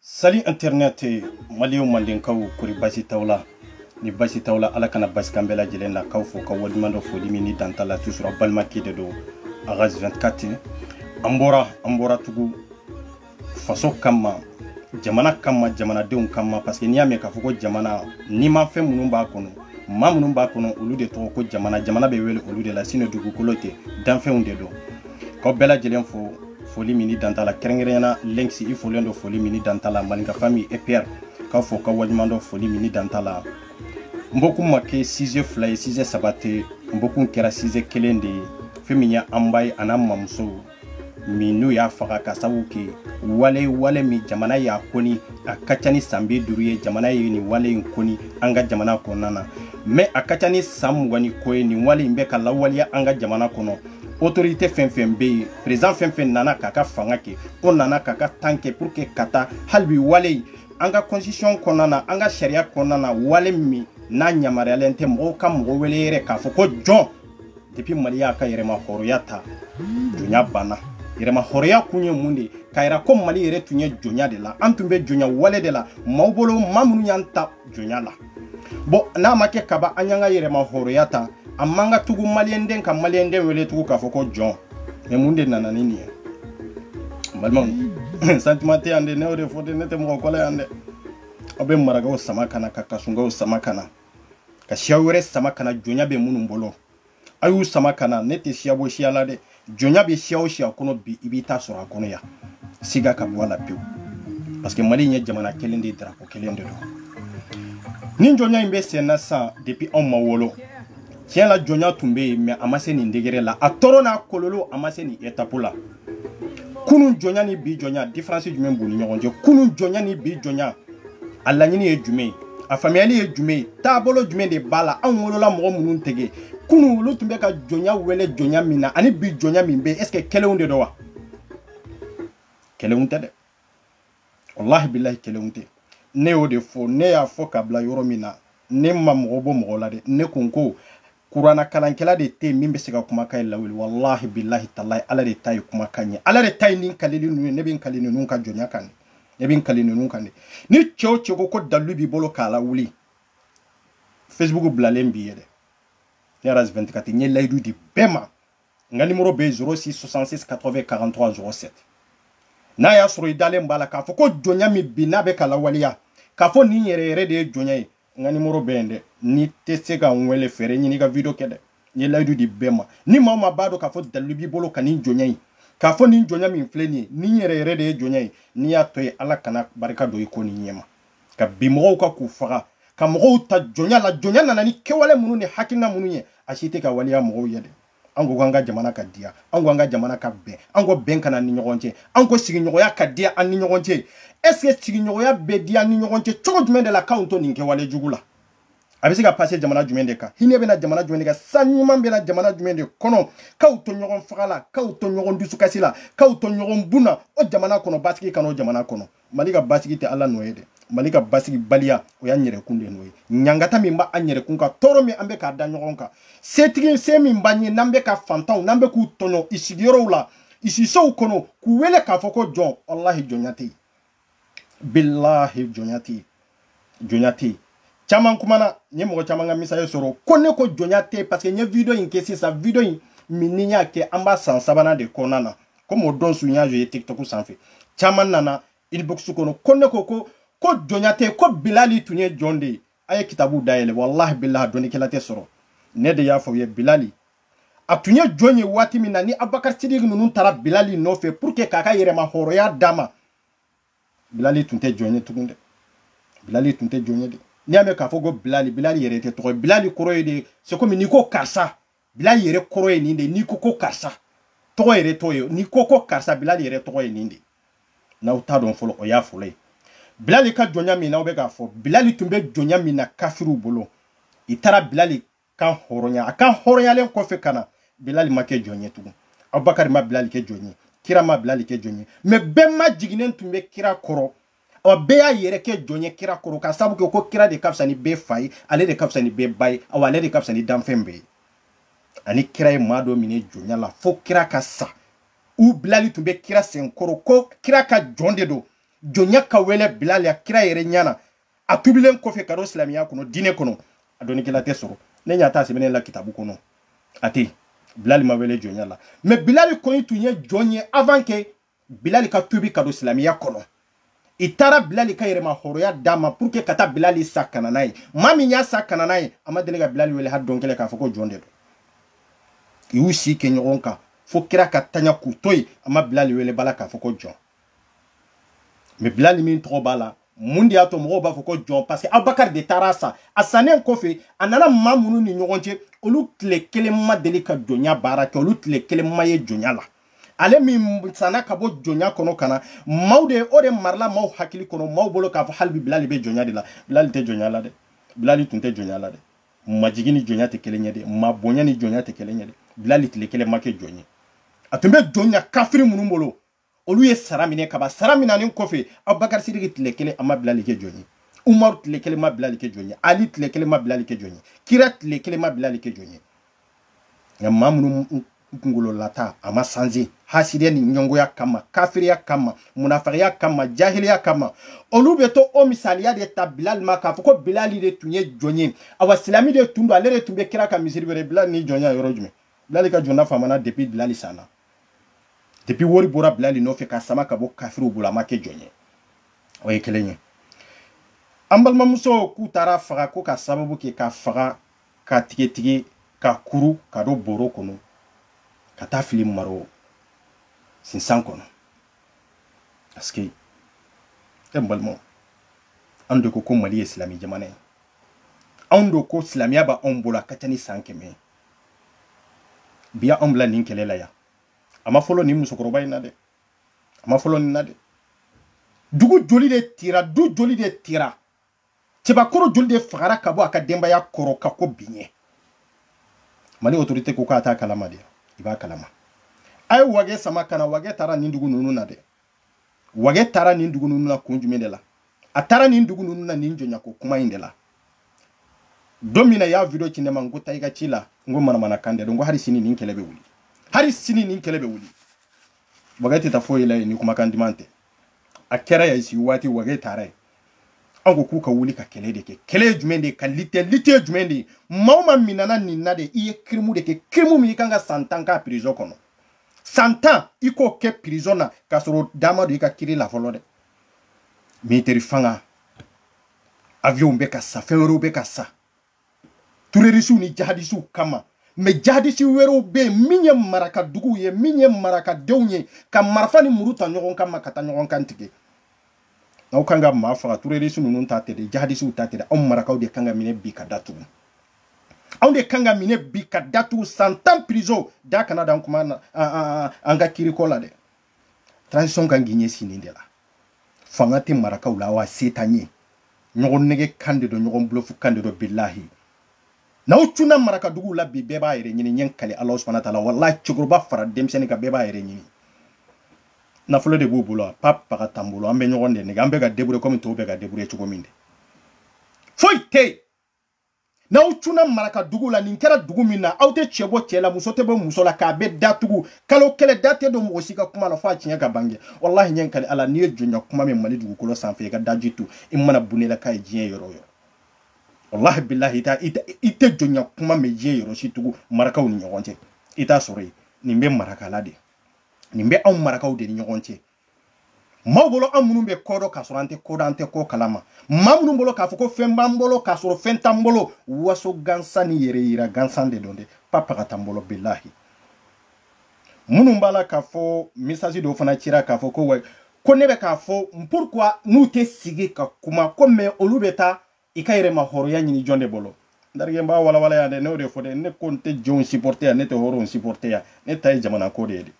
salut internet maliw mandenkaw kori basi t'aw la ni basi t'aw la ala kana basi k'an bɛɛ lajɛlen na k'aw fo k'aw waleɲumandɔn foli min ni dan t'a la toujours balimakɛ de don ras 24 an bɔra an bɔra tugu faso kama jamana kama jamanadenw kama parce que n'i y'a mɛn k'a fɔ ko jamana nimafɛn minnu b'a kɔnɔ maa minnu b'a kɔnɔ olu de tɔgɔ ko jamana jamana bɛ wele olu de la sinon dugukolo tɛ danfɛnw de don k'aw bɛɛ lajɛlen fo foli min ni dan t'a la kɛrɛnkɛrɛnya la lenks i folen don foli min ni dan t'a la maninka famille epr k'aw fo k'aw waleɲumandɔn foli min ni dan t'a la n bɔkun ma kɛ sujet fila ye sujet saba tɛ n bɔkun kɛra sujet kelen de ye fɛn min ye an ba ye an'an mamuso min n'u y'a faga ka sabu kɛ wale wale min jamana y'a koni a ka ca ni san bi duuru ye jamana ye nin wale in koni an ka jamana kɔnɔna na mais a ka ca ni san mugan ni kɔ ye nin wale in bɛ ka lawaleya an ka jamana kɔnɔ autorité fɛn fɛn bɛ yen président fɛn fɛn nana k'a ka fanga kɛ o nana k'a ka temps kɛ pour que ka taa hali bi wale in an ka constitution kɔnɔna na an ka sariya kɔnɔna na wale min n'a yamaruyalen tɛ mɔgɔw ka mɔgɔ wele yɛrɛ k'a fɔ ko jɔn depuis mali y'a ka yɛrɛma hɔrɔnya ta jɔnya banna yɛrɛma hɔrɔnya kun ye mun de ye k'a yira ko mali yɛrɛ tun ye jɔnya de la an tun bɛ jɔnya wale de la maaw bolo maa minnu y'an ta jɔnya la bon n'a ma kɛ kaba an y'an ka yɛrɛma hɔrɔnya ta a man kan tugu maliyɛnden ka maliyɛnden wele tugu k'a fɔ ko jɔn mais mun de nana ni nin ye balimaw sentiment tɛ yan dɛ ne y'o de fɔ dɛ ne tɛ mɔgɔ kɔ la yan dɛ aw bɛ marakaw sama ka na ka kasɔnkaw sama ka na ka siya wɛrɛ sama ka na jɔnya bɛ minnu bolo a y'u sama ka na ne tɛ siya bɔ siya la dɛ jɔnya bɛ siya o siya kɔnɔ bi i b'i ta sɔrɔ a kɔnɔ yan siga ka bɔ a la pewu parce que mali in ye jamana kelen de ye drapeau kelen de don nin jɔnya in bɛ sen na sisan depuis anw ma wolo tiɲɛ la jɔnya tun bɛ yen mais a ma se nin degré la a tɔɔrɔ n'a kɔlɔlɔ a ma se nin étape la kunun jɔnya ni bi jɔnya différence jumɛn b'u ni ɲɔgɔn cɛ kunun jɔnya ni bi jɔnya a laɲini ye jumɛn ye a faamuyali ye jumɛn ye taabolo jumɛn de b'a la anw wolola mɔgɔ minnu tɛgɛ kunun olu tun bɛ ka jɔnya wele jɔnya min na ani bi jɔnya min bɛ est ce que kelenw de don wa kelenw tɛ dɛ walahi bilahi kelenw tɛ ne y'o de fɔ ne y'a fɔ ka bila yɔrɔ min na ne ma mɔgɔ bɔ mɔgɔ la dɛ ne ko n ko kurana kalankɛla de tɛ min bɛ se ka kumakan in lawuli walahi bilahi talahi ala de ta ye kumakan ye ala de ta ye nin kalili ninnu ye ne bɛ n kali ninnu ka jɔnya kan ne bɛ n kali ninnu kan ni cɛ o cɛ ko ko dalilu b'i bolo k'a lawuli facebook bilalen b'i ye dɛ ne ras 24 n ye layidu di bɛɛ ma n ka nimoro bɛ 06 66 80 43 07 n'a y'a sɔrɔ i dalen b'a la k'a fɔ ko jɔnya min bi n'a bɛ ka lawaleya k'a fɔ nin yɛrɛ yɛrɛ de ye jɔnya ye n ka nimoro bɛ yen dɛ n'i tɛ se ka n wele fɛɛrɛ ɲini ka video kɛ dɛ n ye layidu di bɛɛ ma ni maa o maa b'a dɔn k'a fɔ dalilu b'i bolo ka nin jɔnya ye k'a fɔ nin jɔnya min filɛ nin ye nin yɛrɛ yɛrɛ de ye jɔnya ye n'i y'a to yen ala kana barika don i ko nin ɲɛma ka bin mɔgɔw kan k'u faga ka mɔgɔw ta jɔnya la jɔnya nana ni kɛwale minnu ni hakilina minnu ye a si tɛ ka waleya mɔgɔw ye dɛ an ko k'an ka jamana ka diya an ko an ka jamana ka bɛn an ko bɛn ka na an ni ɲɔgɔn cɛ an ko sigiɲɔgɔnya ka diya an ni ɲɔgɔn cɛ est ce que sigiɲɔgɔnya bɛ diya an ni ɲɔgɔn cɛ cogo jumɛn de la k'anw to nin kɛwale jugu la a bɛ se ka pase jamana jumɛn de kan hinɛ bɛ na jamana jumɛn de kan san ɲuman bɛ na jamana jumɛn de kɔnɔ k'aw to ɲɔgɔn faga la k'aw to ɲɔgɔn dusukasi la k'aw to ɲɔgɔn bun na o jamana kɔnɔ basigi ka na o jamana kɔnɔ mali ka basigi tɛ ala nɔ ye dɛ mali ka basigibaliya o y'an yɛrɛkun de nɔ ye ɲangata min b'an yɛrɛkun kan tɔɔrɔ min an bɛ k'a da ɲɔgɔn kan setigi se min b'an ye n'an bɛ ka fantanw n'an bɛ k'u tɔɲɔ i sigiyɔrɔw la i sisow kɔnɔ k'u wele k'a fɔ ko jɔn walahi jɔnya tɛ yen bilahi jɔnya tɛ yen jɔnya tɛ yen caman kumana n ye mɔgɔ caman ka message sɔrɔ ko ne ko jɔnya tɛ yen paseke n ye video in kɛ sisan video in min ni n y'a kɛ an b'a san sabanan de kɔnɔna na komi o don su n y'a ye tiktok sanfɛ caman nana inbox kɔnɔ ko ne ko ko ko jɔnya tɛ yen ko bilali tun ye jɔn de ye a ye kitabu dayɛlɛ walahi bilahi dɔnnikɛla tɛ sɔrɔ ne de y'a fɔ u ye bilali a tun ye jɔn ye waati min na ni abubakar sidiki ninnu taara bilali nɔfɛ pour que k'a ka yɛrɛmahɔrɔnya d'a ma bilali tun tɛ jɔn ye tugun dɛ bilali tun tɛ jɔn ye dɛ n'i y'a mɛn k'a fɔ ko bilali bilali yɛrɛ tɛ tɔgɔ ye bilali kɔrɔ ye de c'est comme n'i ko karisa bilali yɛrɛ kɔrɔ ye nin de n'i ko ko karisa tɔgɔ yɛrɛ tɔgɔ ye n'i ko ko karisa bilali yɛrɛ tɔgɔ ye nin de n'aw t'a dɔn fɔlɔ o y'a fɔlɔ ye bilali ka jɔnya min n'aw bɛ k'a fɔ bilali tun bɛ jɔnya min na kafiriw bolo i taara bilali kanhɔrɔnya a kanhɔrɔnyalen kɔfɛ ka na bilali ma kɛ jɔn ye tugun abubakari ma bilali kɛ jɔn ye kira ma bilali kɛ jɔn ye mɛ bɛɛ majiginnen tun bɛ kira kɔrɔ ɔ bɛɛ y'a yɛrɛ kɛ jɔn ye kira kɔrɔ ka sabu kɛ ko kira de ka fisa ni bɛɛ fa ye ale de ka fisa ni bɛɛ ba ye awa ale de ka fisa ni danfɛn bɛɛ ye ani kira ye maa dɔ minɛ jɔnya la fo kira ka sa u bilali tun bɛ kira senkɔrɔ ko kira ka jɔn de don jɔnya ka wele bilali a kira yɛrɛ ɲana a tubilen kɔfɛ ka don silamɛya kɔnɔ diinɛ kɔnɔ a dɔnnikɛla tɛ sɔrɔ ne ɲa t'a sɛbɛnnen la kitabu kɔnɔ a tɛ bilali ma wele jɔnya la mɛ bilali kɔni tun ye jɔn ye avant que bilali ka tubi ka don silamɛya kɔnɔ i taara bilali ka yɛrɛmahɔrɔnya d'a ma pour que ka taa bilali san ka na n'a ye maa min y'a san ka na n'a ye a ma deli ka bilali wele hali don kelen k'a fɔ ko jɔn de don i y'u si kɛ ɲɔgɔn kan fo kira ka taɲa k'u to yen a ma bilali wele abada k'a fɔ ko jɔn mɛ bilali min tɔgɔ b'a la mun de y'a to mɔgɔw b'a fɔ ko jɔn parce que abubakar de taara a san a sannen kɔfɛ a nana maa minnu ni ɲɔgɔn cɛ olu tile kelen ma deli ka jɔnya baara kɛ olu tile kelen ma ye jɔnya la ale min sanna ka bɔ jɔnya kɔnɔ ka na maaw de o de marala maaw hakili kɔnɔ maaw bolo k'a fɔ hali bi bilali bɛ jɔnya de la bilali tɛ jɔnya la dɛ bilali tun tɛ jɔnya la dɛ majigi ni jɔnya tɛ kelen ye dɛ ma bonya ni jɔnya tɛ kelen ye dɛ bilali tile kelen ma kɛ jɔn ye a tun bɛ jɔnya kafiri minnu bolo olu ye sara minɛ ka ban sara minanen kɔfɛ abubakari sidiki tile kelen a ma bilali kɛ jɔn ye umaru tile kelen ma bilali kɛ jɔn ye ali tile kelen ma bilali kɛ jɔn ye kira tile kelen ma bilali kɛ jɔn ye nka maa minnu kunkolo lata a ma sanze hasidiya ni ɲɛngoya kama kafiriya kama munafigiya kama jahiliya kama olu bɛ to o misaliya de ta bilali ma k'a fɔ ko bilali de tun ye jɔn ye awa silami de tun don ale de tun bɛ kira ka misiri wele bilali ni jɔnya yɔrɔ jumɛn bilali ka jɔnya famana depuis bilali sanna depuis wari bɔra bilali nɔfɛ ka sama ka bɔ kafiriw bolo a ma kɛ jɔn ye o ye kelen ye an balimamuso k'u taara faga ko ka sababu kɛ ka faga ka tigɛtigɛ ka kuru ka don bɔrɔ kɔnɔ ka taa fili maro sinsan kɔnɔ parce que e balimaw an de ko ko mali ye silamɛ jamana ye anw do ko silamɛya b'anw bolo a ka ca ni san kɛmɛ ye bi y'a anw bila nin kɛlɛ la yan a ma fɔlɔ nin musokɔrɔba in na dɛ a ma fɔlɔ nin na dɛ dugu joli de tira du joli de tira cɛbakɔrɔ joli de fagara ka bɔ a ka denbaya kɔrɔ ka ko biɲɛ mali autorité ko k'a t'a kalama dɛ i b'a kalama a ye wage sama ka na wage taara nin dugu ninnu na dɛ wage taara nin dugu ninnu na kun jumɛn de la a taara nin dugu ninnu na nin jɔnyako kuma in de la don min na y'a video ci ne ma n ko taa i ka ci la n ko manamana kan de don ko hali sini nin kɛlɛ bɛ wuli hali sini nin kɛlɛ bɛ wuli wage tɛ taa foyi la yen ni kumakan duman tɛ a kɛra ya sigi waati wage taara yen an ko k'u ka wuli ka kɛlɛ de kɛ kɛlɛ ye jumɛn de ye ka lite lite ye jumɛn de ye maa o maa minana nin na de i ye kirimu de kɛ kirimu min i kan ka san tan k'a prison kɔnɔ san tan i k'o kɛ prison na k'a sɔrɔ da ma don i ka kiri la fɔlɔ dɛ militeri fanga avion bɛ ka san fɛn wɛrɛw bɛ ka san turerisiw ni jahadisiw kama mɛ jahadisi wɛrɛw bɛ yen min ye maraka duguw ye min ye marakadenw ye ka marifa ni muru ta ɲɔgɔn kama ka taa ɲɔgɔn kan tigɛ aw kan ka maa faga turerisi ninnu ta tɛ dɛ jahadisiw ta tɛ dɛ aw marakaw de kan ka minɛ bi ka datugu anw de kan ka minɛ bi ka datugu san tan prison da kana dan kuma na an ka kiri ko la dɛ transition kan k'i ɲɛsin nin de la fanga tɛ marakaw la wa se t'an ye ɲɔgɔn nɛgɛn kan de don ɲɔgɔn bulufu kan de don bilahi n'aw cunna marakaduguw la bi bɛɛ b'a yɛrɛ ɲini n ye n kali ala subahana taala walahi cɛkɔrɔba fara denmisɛnnin kan bɛɛ b'a yɛrɛ ɲini nafolo de b'u bolo a pa paga t'an bolo an bɛ ɲɔgɔn de nɛgɛn an bɛ ka debure kɔmi tɔw bɛ ka debure cogo min de foyi tɛ yen n'aw cunna maraka dugu la nin kɛra dugu min na aw tɛ cɛ bɔ cɛ la muso tɛ bɔ muso la k'a bɛɛ datugu kalo kelen da tɛ don mɔgɔ si ka kuma la fo a tiɲɛ ka bange walahi n ye n kali ala n'i ye jɔnya kuma mɛn mali dugukolo sanfɛ i ka daji tu i mana bunne la k'a ye diɲɛ yɔrɔ o yɔrɔ walahi bilahi i tɛ jɔnya kuma mɛn diɲɛ yɔrɔ si tugu marakaw ni ɲɔgɔn cɛ i t'a sɔrɔ yen nin bɛ marakala de nin bɛ anw marakaw de ni ɲɔgɔn cɛ maaw bolo an minnu bɛ ko dɔn k'a sɔrɔ an tɛ ko dɔn an tɛ ko kalama maa minnu bolo k'a fɔ ko fɛn b'an bolo k'a sɔrɔ fɛn t'an bolo waso gansan ni yɛrɛ yira gansan de don dɛ pa paga t'an bolo bilahi minnu b'a la k'a fɔ misasi dɔw fana cira k'a fɔ ko wa ko ne bɛ k'a fɔ pourquoi n'u tɛ sigi ka kuma ko mɛ olu bɛ taa i ka yɛrɛma hɔrɔnya ɲini jɔn de bolo n terikɛ n b'a walawala yan dɛ ne y'o de fɔ dɛ ne ko n tɛ jɔnw supporte yan ne tɛ hɔrɔnw supporte yan ne ta ye jamana ko de ye dɛ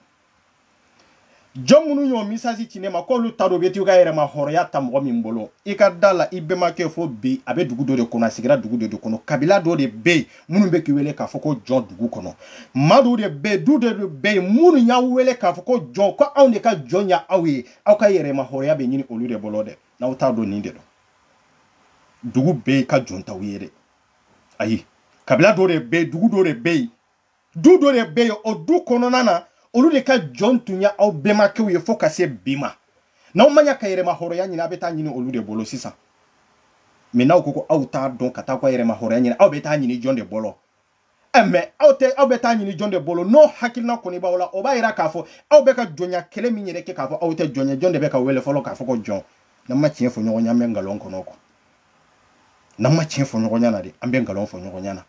jɔn minnu y'o misasi ci ne ma k'olu t'a dɔn u bɛ t'u ka yɛrɛma hɔrɔnya ta mɔgɔ min bolo i ka da la i bɛnbakɛ fo bi a bɛ dugu dɔ de kɔnɔ a sigira dugu dɔ de kɔnɔ kabila dɔ de bɛ yen minnu bɛ k'i wele k'a fɔ ko jɔn dugu kɔnɔ maa dɔw de bɛ yen du dɔ de bɛ yen minnu y'aw wele k'a fɔ ko jɔn ko anw de ka jɔn ye aw ye aw ka yɛrɛma hɔrɔnya bɛ ɲini olu de bolo dɛ n'aw t'a dɔn nin de don dugu bɛɛ ka jɔn t'aw ye dɛ ayi kabila dɔ de bɛ yen dugu dɔ de bɛ yen du dɔ de bɛ yen o du kɔnɔna na olu de ka jɔn tun ye aw bɛnbakɛw ye fo ka se bi ma n'aw ma ɲa ka yɛrɛma hɔrɔnya ɲini aw bɛ taa ɲini olu de bolo sisan mɛ n'aw ko ko aw t'a dɔn ka taa aw ka yɛrɛma hɔrɔnya ɲini aw bɛ taa ɲini jɔn de bolo Eh, mɛ aw bɛ taa ɲini jɔn de bolo n'o hakilina kɔni b'aw la o b'a yira k'a fɔ aw bɛ ka jɔnya kɛlɛ min yɛrɛ kɛ k'a fɔ aw tɛ jɔn ye jɔn de bɛ k'aw wele fɔlɔ k'a fɔ ko jɔn n'an ma tiɲɛ fɔ ɲɔgɔn ye an bɛ nkalon kɔnɔ ko n'an ma tiɲɛ fɔ ɲɔgɔn ɲɛna dɛ an bɛ nkalon fɔ ɲɔgɔn ɲɛna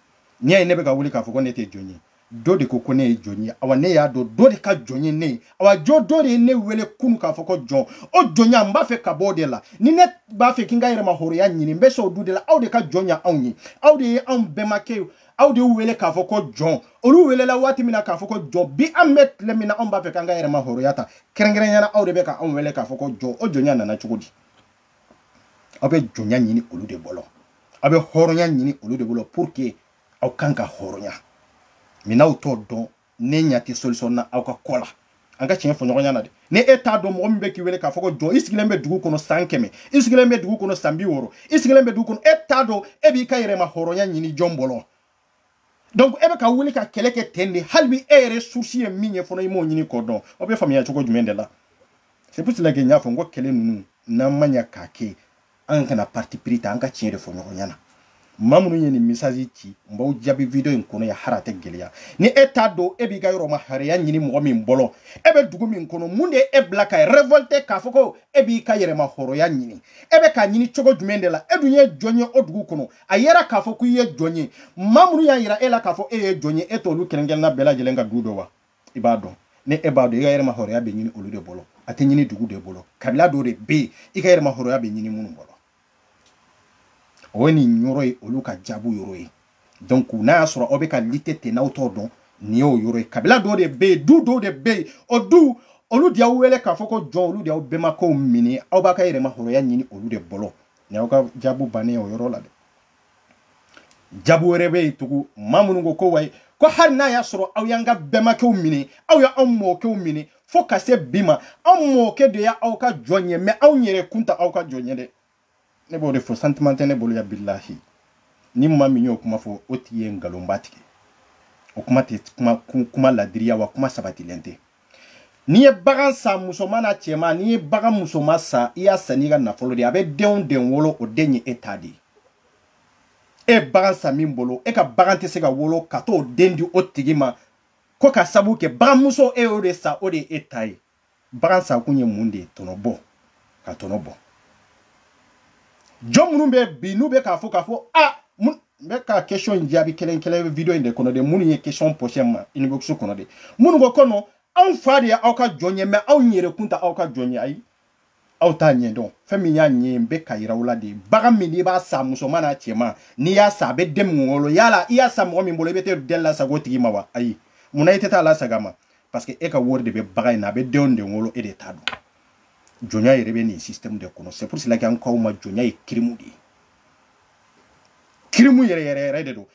n'i y'a ye ne bɛ ka wuli k'a fɔ ko ne tɛ jɔn ye dɔ de ko ko ne ye jɔn ye awa ne y'a dɔn dɔ de ka jɔn ye ne ye awa jo dɔ de ye ne wele kunu k'a fɔ ko jɔn o jɔnya n b'a fɛ ka bɔ o de la ni ne b'a fɛ ka n ka yɛrɛma hɔrɔnya ɲini n bɛ s'o du de la aw de ka jɔn ye anw ye aw de ye anw bɛnbakɛw de wele k'a fɔ ko jɔn olu welela waati min na k'a fɔ ko jɔn bi an bɛ tile min na anw b'a fɛ k'an ka yɛrɛma hɔrɔnya ta kɛrɛnkɛrɛnya na aw de bɛ ka anw wele k'a fɔ ko jɔn o jɔnya nana cogo di aw bɛ jɔnya ɲini olu de bolo aw bɛ hɔrɔnya ɲini olu de bolo pour que aw kan ka hɔrɔnya min n'aw t'o dɔn ne ɲa tɛ solution na aw ka ko la an ka tiɲɛ fɔ ɲɔgɔn ɲa na dɛ ni e t'a dɔn mɔgɔ min bɛ k'i wele k'a fɔ ko jɔn i sigilen bɛ dugu kɔnɔ san kɛmɛ i sigilen bɛ dugu kɔnɔ san bi wɔɔrɔ i sigilen bɛ dugu kɔnɔ e t'a dɔn e b'i ka yɛrɛma hɔrɔnya ɲini jɔn bolo donc e bɛ ka wuli ka kɛlɛ kɛ ten de hali bi e yɛrɛ source ye min ye fɔlɔ i m'o ɲini k'o dɔn o bɛ faamuya cogo jumɛn de la c'est pour cela que n y'a fɔ n ko kɛlɛ ninnu n'an ma ɲa k'a kɛ an kana parti pris ta an ka tiɲɛ de fɔ ɲɔgɔn ɲɛna maa minnu ye nin message ci n b'aw jaabi video in kɔnɔ yan hali a tɛ gɛlɛya ni e t'a dɔn e b'i ka yɛrɛma hɔrɔya ɲini mɔgɔ min bolo e bɛ dugu min kɔnɔ mun de ye e bila ka révolte k'a fɔ ko e b'i ka yɛrɛma hɔrɔya ɲini e bɛ k'a ɲini cogo jumɛn de la e dun ye jɔn ye o dugu kɔnɔ a yera k'a fɔ ko i ye jɔn ye maa minnu y'a yira e la k'a fɔ e ye jɔn ye e t'olu kelenkelenna bɛɛ lajɛlen ka du dɔn wa i b'a dɔn ni e b'a dɔn i ka yɛrɛma hɔrɔnya bɛ ɲini olu de bolo a tɛ ɲini dugu de bolo kabila dɔ de bɛ yen i ka yɛrɛma hɔrɔnya bɛ ɲini minnu bolo o ye nin yɔrɔ ye olu ka jaabu yɔrɔ ye donc n'a y'a sɔrɔ aw bɛ ka lutter ten n'aw t'o dɔn nin y'o yɔrɔ ye kabila dɔw de bɛ yen du dɔw de bɛ yen o du olu de y'aw wele k'a fɔ ko jɔn olu de y'aw bɛnbakɛw minɛ aw b'aw ka yɛrɛma hɔrɔnya ɲini olu de bolo nin y'aw ka jaabu bannen ye o yɔrɔ la dɛ jaabu wɛrɛ bɛ yen tugun maa minnu ko ko wayi ko hali n'a y'a sɔrɔ aw y'an ka bɛnbakɛw minɛ aw y'anw mɔkɛw minɛ fo ka se bi ma anw mɔkɛ de y'aw ka jɔn ye mais anw yɛrɛ kun tɛ aw ka jɔn ye dɛ ne b'o de fɔ sentiment tɛ ne bolo ya bilahi ni maa min y'o kuma fɔ o tigi ye nkalonba tigɛ o kuma tɛ kuma ladiriya wa kuma sabatilen tɛ n'i ye bagan san musoman n'a cɛman n'i ye bagan musoman san i y'a san n'i ka nafolo de a bɛ den o den wolo o den ye e ta de ye e bagan san min bolo e ka bagan tɛ se ka wolo ka t'o den di o tigi ma ko ka sabu kɛ baganmuso e y'o de san o de ye e ta ye bagan san kun ye mun de ye tɔnɔ bɔ ka tɔnɔ bɔ jɔn minnu bɛ bi n'u bɛ k'a fɔ k'a fɔ a n bɛ ka question in jaabi kelen kelen video in de kɔnɔ de minnu ye question posé ma inbox kɔnɔ de minnu ko ko non anw fa de ye aw ka jɔn ye mais anw yɛrɛ kun tɛ aw ka jɔn ye ayi aw t'a ɲɛ dɔn fɛn min y'a ɲɛ n bɛ ka yira aw la de bagan min n'i b'a san musoman n'a cɛman n'i y'a san a bɛ den min wolo yala i y'a san mɔgɔ min bolo i bɛ taa den lasagi o tigi ma wa ayi mun na i tɛ t'a lasagi a ma parce que e ka wari de bɛ bagan in na a bɛ den o den wolo e de ta don jɔnya yɛrɛ bɛ nin système de kɔnɔ c'est pour cela que an k'aw ma jɔnya ye kirimu de ye kirimu yɛrɛ yɛrɛ yɛrɛ de don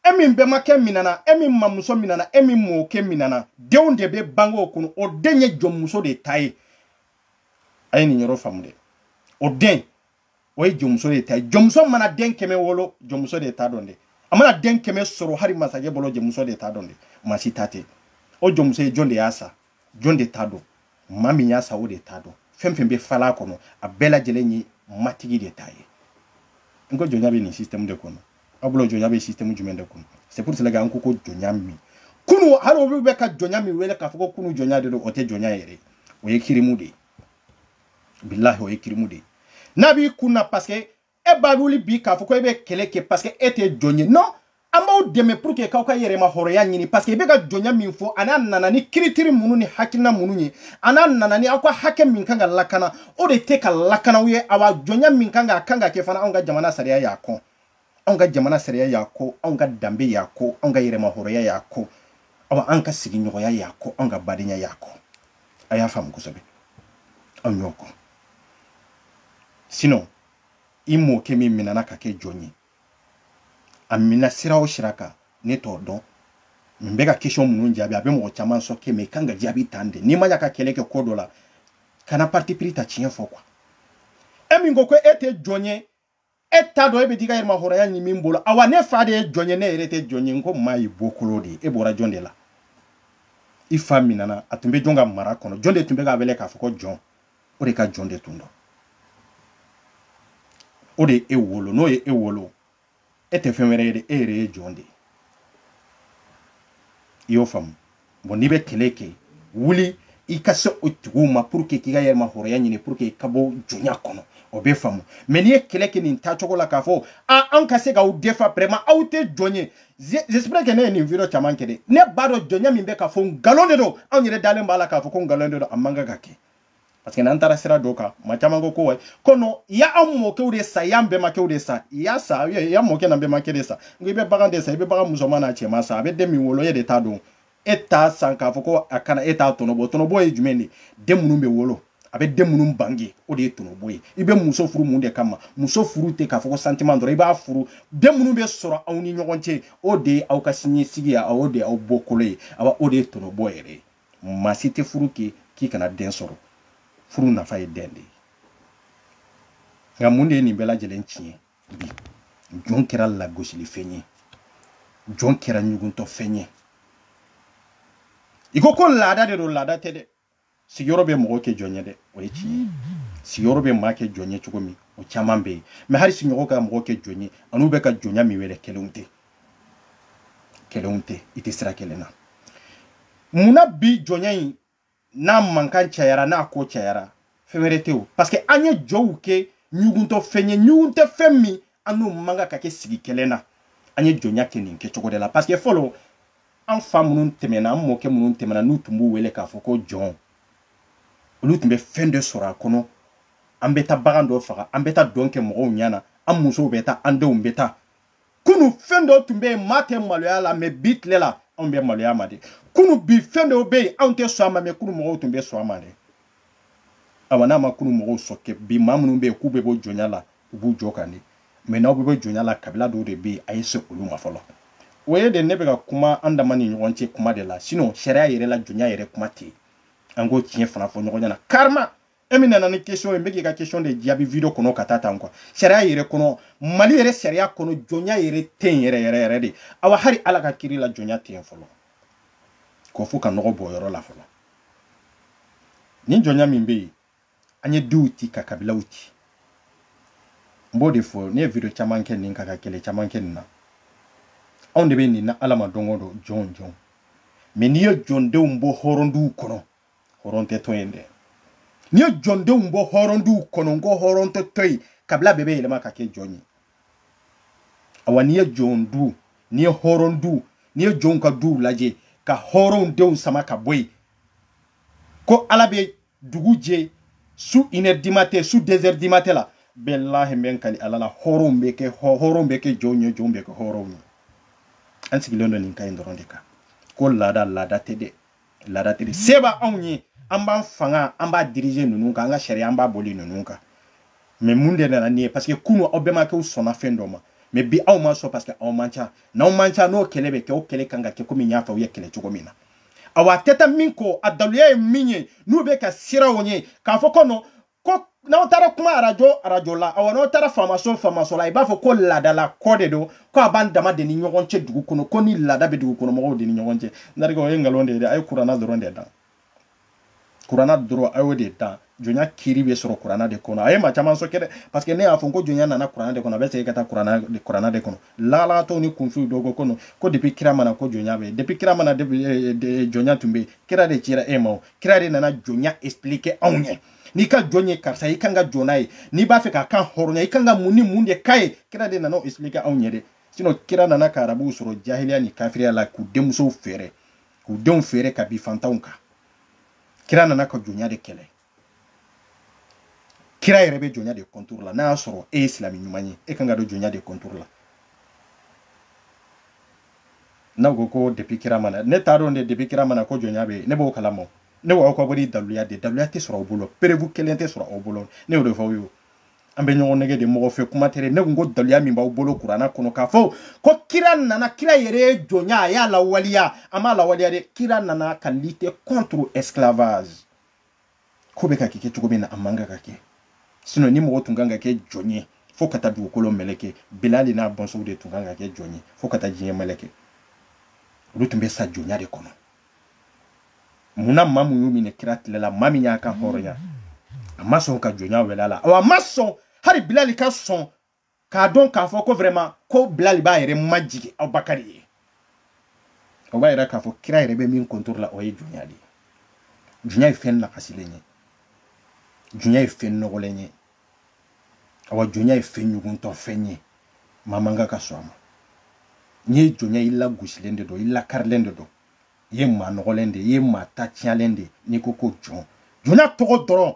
e min bɛmakɛ minana e min mamuso minana e min mɔkɛ minana den o den bɛ bange o kɔnɔ o den ye jɔnmuso de ta ye a ye nin yɔrɔ faamu dɛ o den o ye jɔnmuso de ta ye jɔnmuso mana den kɛmɛ wolo jɔnmuso de ta don dɛ a mana den kɛmɛ sɔrɔ hali masakɛ bolo jɔnmuso de ta don dɛ maa si ta tɛ o jɔnmuso ye jɔn de y'a san jɔn de ta don maa min y'a san o de ta don fɛn fɛn bɛ fal'a kɔnɔ a bɛɛ lajɛlen ye matigi de ta ye n ko jɔnya bɛ nin système de kɔnɔ aw bolo jɔnya bɛ système jumɛn de kɔnɔ c'est pour cela que an ko ko jɔnya min kunu hali olu bɛ ka jɔnya min wele k'a fɔ ko kunu jɔnya de don o tɛ jɔnya yɛrɛ o ye kirimu de ye bilahi o ye kirimu de ye n'a b'i kun na parce que e ba wuli bi k'a fɔ ko e bɛ kɛlɛ kɛ parce que e tɛ jɔn ye non an b'aw dɛmɛ pour que k'aw ka yɛrɛma hɔrɔnya ɲini parce que i bɛ ka jɔnya min fɔ ani a nana ni critère minnu ni hakilina minnu ye ani a nana ni aw ka hakɛ min kan ka lakana o de tɛ ka lakana aw ye awa jɔnya min kan ka a kan ka kɛ fana anw ka jamana sariya y'a kɔn anw ka jamana sariya y'a kɔn anw ka danbe y'a kɔn anw ka yɛrɛma hɔrɔnya y'a kɔn awa an ka sigiɲɔgɔnya y'a kɔn anw ka badenya y'a kɔn a y'a faamu kosɛbɛ anw y'o kɔn sinon i mɔkɛ min minɛna ka kɛ jɔn ye a minɛ sira o sira kan ne t'o dɔn n bɛ ka question minnu jaabi a bɛ mɔgɔ caman choquer mais a kan ka jaabi tan de n'i ma ya ka kɛlɛ kɛ ko dɔ la kana parti pris ta tiɲɛ fɔ quoi e min ko ko e tɛ jɔn ye e t'a dɔn e bɛ t'i ka yɛrɛmahɔrɔnya ɲini min bolo awa ne fa de ye jɔn ye ne yɛrɛ tɛ jɔn ye n ko maa y'i bɔkolo de ye e bɔra jɔn de la i fa minɛna a tun bɛ jɔn ka mara kɔnɔ jɔn de tun bɛ k'a wele k'a fɔ ko jɔn o de ka jɔn de tun don o de ye e wolo n'o ye e wolo e tɛ fɛn wɛrɛ ye dɛ e yɛrɛ ye jɔn de ye i y'o faamu bon n'i bɛ kɛlɛ kɛ wuli i ka se o tigiw ma pour que k'i ka yɛrɛma hɔrɔnya ɲini pour que ka bɔ jɔnya kɔnɔ o bɛ faamu mais n'i ye kɛlɛ kɛ nin taacogo la k'a fɔ a anw ka se k'aw défendre vraiment aw tɛ jɔn ye j'espère que ne ye nin video caman kɛ dɛ ne b'a dɔn jɔnya min bɛ ka fɔ nkalon de don anw yɛrɛ dalen b'a la k'a fɔ ko nkalon de don a man kan ka kɛ parce que n'an taara sira dɔ kan maa caman ko ko wayi ko non i y'anw mɔkɛw de san y'an bɛnbakɛw de san i y'a san i y'an mɔkɛ n'an bɛnbakɛ de san n ko i bɛ bagan de san i bɛ bagan musoman n'a cɛman san a bɛ den min wolo e de ta don e t'a san k'a fɔ ko a kana e t'a tɔnɔbɔ tɔnɔbɔ ye jumɛn de den minnu bɛ wolo a bɛ den minnu bange o de ye tɔnɔbɔ ye i bɛ muso furu mun de kama muso furu tɛ k'a fɔ ko sentiment dɔrɔn i b'a furu den minnu bɛ sɔrɔ aw ni ɲɔgɔn cɛ o de ye aw ka siniɲɛsigi ye o de ye aw bɔkolo ye awa o de ye tɔnɔbɔ yɛrɛ ye maa si tɛ furu kɛ k'i kana den sɔrɔ furu nafa ye den de ye nka mun de ye nin bɛɛ lajɛlen tiɲɛ bi jɔn kɛra lagosilifɛn ye jɔn kɛra ɲuguntɔfɛn ye i ko ko laada de don laada tɛ dɛ sigiyɔrɔ bɛ mɔgɔ kɛ jɔn ye dɛ o ye tiɲɛ ye sigiyɔrɔ bɛ maa kɛ jɔn ye cogo min o caman bɛ yen mais hali sigiɲɔgɔn ka mɔgɔ kɛ jɔn ye an'u bɛ ka jɔnya min wele kelenw tɛ kelenw tɛ u tɛ sira kelen na mun na bi jɔnya in n'a mankan cayara n'a ko cayara fɛn wɛrɛ tɛ o parce que an ye jɔnw kɛ ɲuguntɔ fɛn ye ɲuguntɔ fɛn min an n'u man kan ka kɛ sigi kelen na an ye jɔnya kɛ nin kɛcogo de la parce que fɔlɔ an fa minnu tɛmɛna an mɔkɛ minnu tɛmɛna n'u tun b'u wele k'a fɔ ko jɔn olu tun bɛ fɛn dɔ sɔrɔ a kɔnɔ an bɛ taa bagan dɔ faga an bɛ taa dɔn kɛ mɔgɔw ɲɛ na an musow bɛ taa an denw bɛ taa kunu fɛn dɔ tun bɛ yen maa tɛ maloya la mais bi tile la anw bɛ maloya ma de kunu bi fɛn dɔw bɛ yen anw tɛ sɔn a ma mais kunu mɔgɔw tun bɛ sɔn a ma de awa n'a ma kunu mɔgɔw choquer bi maa minnu bɛ yen k'u bɛ bɔ jɔnya la u b'u jo kan de mais n'aw bɛ bɔ jɔnya la kabila dɔw de bɛ yen a ye se olu ma fɔlɔ o ye de ne bɛ ka kuma an dama ni ɲɔgɔn cɛ kuma de la sinon sariya yɛrɛ la jɔnya yɛrɛ kuma tɛ yen an k'o tiɲɛ fana fɔ ɲɔgɔn ɲɛna karima e min nana ni question ye n bɛ k'i ka question de jaabi video kɔnɔ ka taa tan quoi sariya yɛrɛ kɔnɔ mali yɛrɛ sariya kɔnɔ jɔnya yɛrɛ tɛ yen yɛrɛ yɛrɛ yɛrɛ de awa hali ala ka kiri la jɔnya tɛ yen fɔlɔ ko fo ka nɔgɔ bɔ yɔrɔ la fɔlɔ nin jɔnya min bɛ yen an ye duw ci ka kabilaw ci n b'o de fɔ ne ye video caman kɛ nin kan ka kɛlɛ caman kɛ nin na anw de bɛ nin na ala ma don o don jɔn jɔn mais n'i ye jɔndenw bɔ hɔrɔnduw kɔnɔ hɔrɔn tɛ to yen dɛ n'i ye jɔndenw bɔ hɔrɔnduw kɔnɔ n ko hɔrɔn tɛ to yen kabila bɛɛ bɛ yɛlɛma ka kɛ jɔn ye awa n'i ye jɔn du n'i ye hɔrɔn du n'i ye jɔnw ka duw lajɛ ka hɔrɔnw denw sama ka bɔ yen ko ala bɛ dugu jɛ su une heure du matin su deux heures du matin la billahi n bɛ n kali ala la hɔrɔnw bɛ kɛ hɔrɔnw bɛ kɛ jɔnw ye jɔnw bɛ kɛ hɔrɔnw ye an sigilen don nin kan in dɔrɔn de kan ko laada laada tɛ dɛ laada tɛ dɛ se b'anw ye an b'an fanga an b'a diriger ninnu kan an ka sariya an b'a boli ninnu kan mais mun de nana ni ye parce que kunu aw bɛmakɛw sɔnna fɛn dɔ ma mais bi aw ma sɔn parce que aw man ca n'aw man ca n'o kɛlɛ bɛ kɛ o kɛlɛ kan ka kɛ komi n y'a fɔ aw ye kɛlɛ cogo min na awa a tɛ taa min kɔ a daluya ye min ye n'u bɛ ka siraw ye k'a fɔ ko non ko n'aw taara kuma arajo arajo la awa n'aw taara faamaso faamaso la i b'a fɔ ko laadala ko de don ko a b'an dama de ni ɲɔgɔn cɛ dugu kɔnɔ ko ni laada bɛ dugu kɔnɔ mɔgɔw de ni ɲɔgɔn cɛ n terikɛ o ye nkalon de ye dɛ a ye kuranna dɔrɔn de dan kuranna dɔrɔn a y'o de dan jɔnya kiri bɛ sɔrɔ kuranna de kɔnɔ a ye maa caman choquer dɛ parce que ne y'a fɔ ko jɔnya nana kuranna de kɔnɔ a bɛ segin ka taa kuranna de kɔnɔ lagalatɔw ni kunfiw dɔw ko non ko depuis kira ma na ko jɔnya bɛ yen depuis kira ma na eh, eh, jɔnya tun bɛ yen kira de cira e ma kira de nana jɔnya expliquer anw ɲɛ n'i ka jɔn ye karisa i kan ka jɔn n'a ye n'i b'a fɛ k'a kan hɔrɔnya i kan ka mun ni mun de k'a ye kira de nana o expliquer anw ɲɛ dɛ sinon kira nana ka arabuw sɔrɔ jahiliya ni kafiriya la k'u denmusow feere k'u denw feere ka bin fantanw kan kira nana ka jɔnya de kɛlɛ kira yɛrɛ bɛ jɔnya de contre la n'a y'a sɔrɔ e ye silamɛ ɲuman ye e kan ka don jɔnya de contre la n'aw ko ko depi kira ma na ne t'a dɔn dɛ depi kira ma na ko jɔnya bɛ yen ne b'o kalama ne b'aw ka wari daluya de daluya tɛ sɔrɔ aw bolo preuve kelen tɛ sɔrɔ aw bolo ne y'o de fɔ aw ye an bɛ ɲɔgɔn nɛgɛn de mɔgɔ fɛ kuma tɛ ne ko ko daluya min b'aw bolo kurana kɔnɔ k'a fɔ ko kira nana kira yɛrɛ ye jɔnya a y'a lawaleya a m'a lawaleya dɛ kira nana ka lite contre esclavage ko bɛ ka kɛ cogo min na a man kan ka kɛ sinon ni mɔgɔ tun kan ka kɛ jɔn ye fo ka taa dugukolo meleke bilali n'a bɔnsɔnw de tun kan ka kɛ jɔn ye fo ka taa diɲɛ meleke olu tun bɛ sa jɔnya de kɔnɔ mun na maa min y'u minɛ kira tile la maa min y'a kanhɔrɔnya a ma sɔn ka jɔnya wele a la a ma sɔn hali bilali ka sɔn k'a dɔn k'a fɔ ko vraiment ko bilali b'a yɛrɛ majigin abubakari ye o b'a yira k'a fɔ kira yɛrɛ bɛ min contre la o ye jɔnya de ye jɔnya ye fɛn nagasilen ye jɔnya ye fɛn nɔgɔlen ye awa jɔnya ye fɛn ɲuguntɔ fɛn ye maa man kan ka sɔn a ma n'i ye jɔn ye i lagosilen de don i lakarilen de don i ye maa nɔgɔlen de ye i ye maa ta tiɲɛlen de ye n'i ko ko jɔn jɔnya tɔgɔ dɔrɔn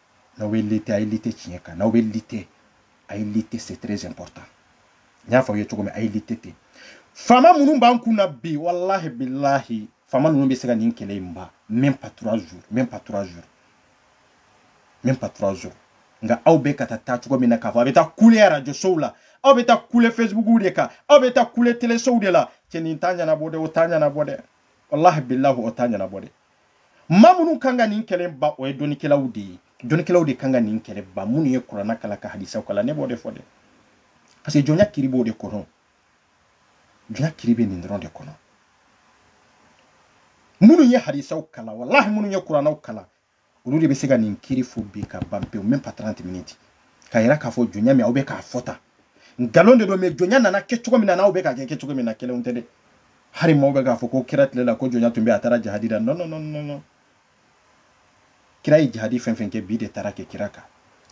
n'aw bɛ lite a ye lite tiɲɛ kan n'aw bɛ lite a ye lite c'est très important n y'a fɔ aw ye cogo min a ye lite ten faama minnu b'an kun na bi walahi bilahi faama ninnu bɛ se ka nin kɛlɛ in ban même pas trois jours même pas trois jours même pas trois jours nka aw bɛ ka taa taa cogo min na k'a fɔ aw bɛ taa kule arajosow la aw bɛ taa kule fesibukuw de kan aw bɛ taa kule telesow de la cɛ nin t'a ɲɛnabɔ dɛ o t'a ɲɛnabɔ dɛ walahi bilahi o t'a ɲɛnabɔ dɛ maa minnu kan ka nin kɛlɛ ban o ye dɔnnikɛlaw de ye dɔnnikɛlaw de kan ka nin kɛlɛ ban minnu ye kurana kalan ka hadisaw kalan ne b'o de fɔ dɛ parce que jɔnya kiri b'o de kɔnɔ jɔnya kiri bɛ nin dɔrɔn de kɔnɔ minnu ye hadisaw kalan walahi minnu ye kuranaw kalan olu de bɛ se ka nin kiri fɔ bi ka ban pewu même pas 30 minutes k'a yira k'a fɔ jɔnya min aw bɛ k'a fɔ tan nkalon de don mais jɔnya nana kɛ cogo min na n'aw bɛ k'a kɛ kɛ cogo min na kelen tɛ dɛ hali maaw bɛ k'a fɔ ko kira tile la ko jɔnya tun bɛ a taara jihadi la non non non non non kira ye jihadi fɛn fɛn kɛ bin de taara kɛ kira kan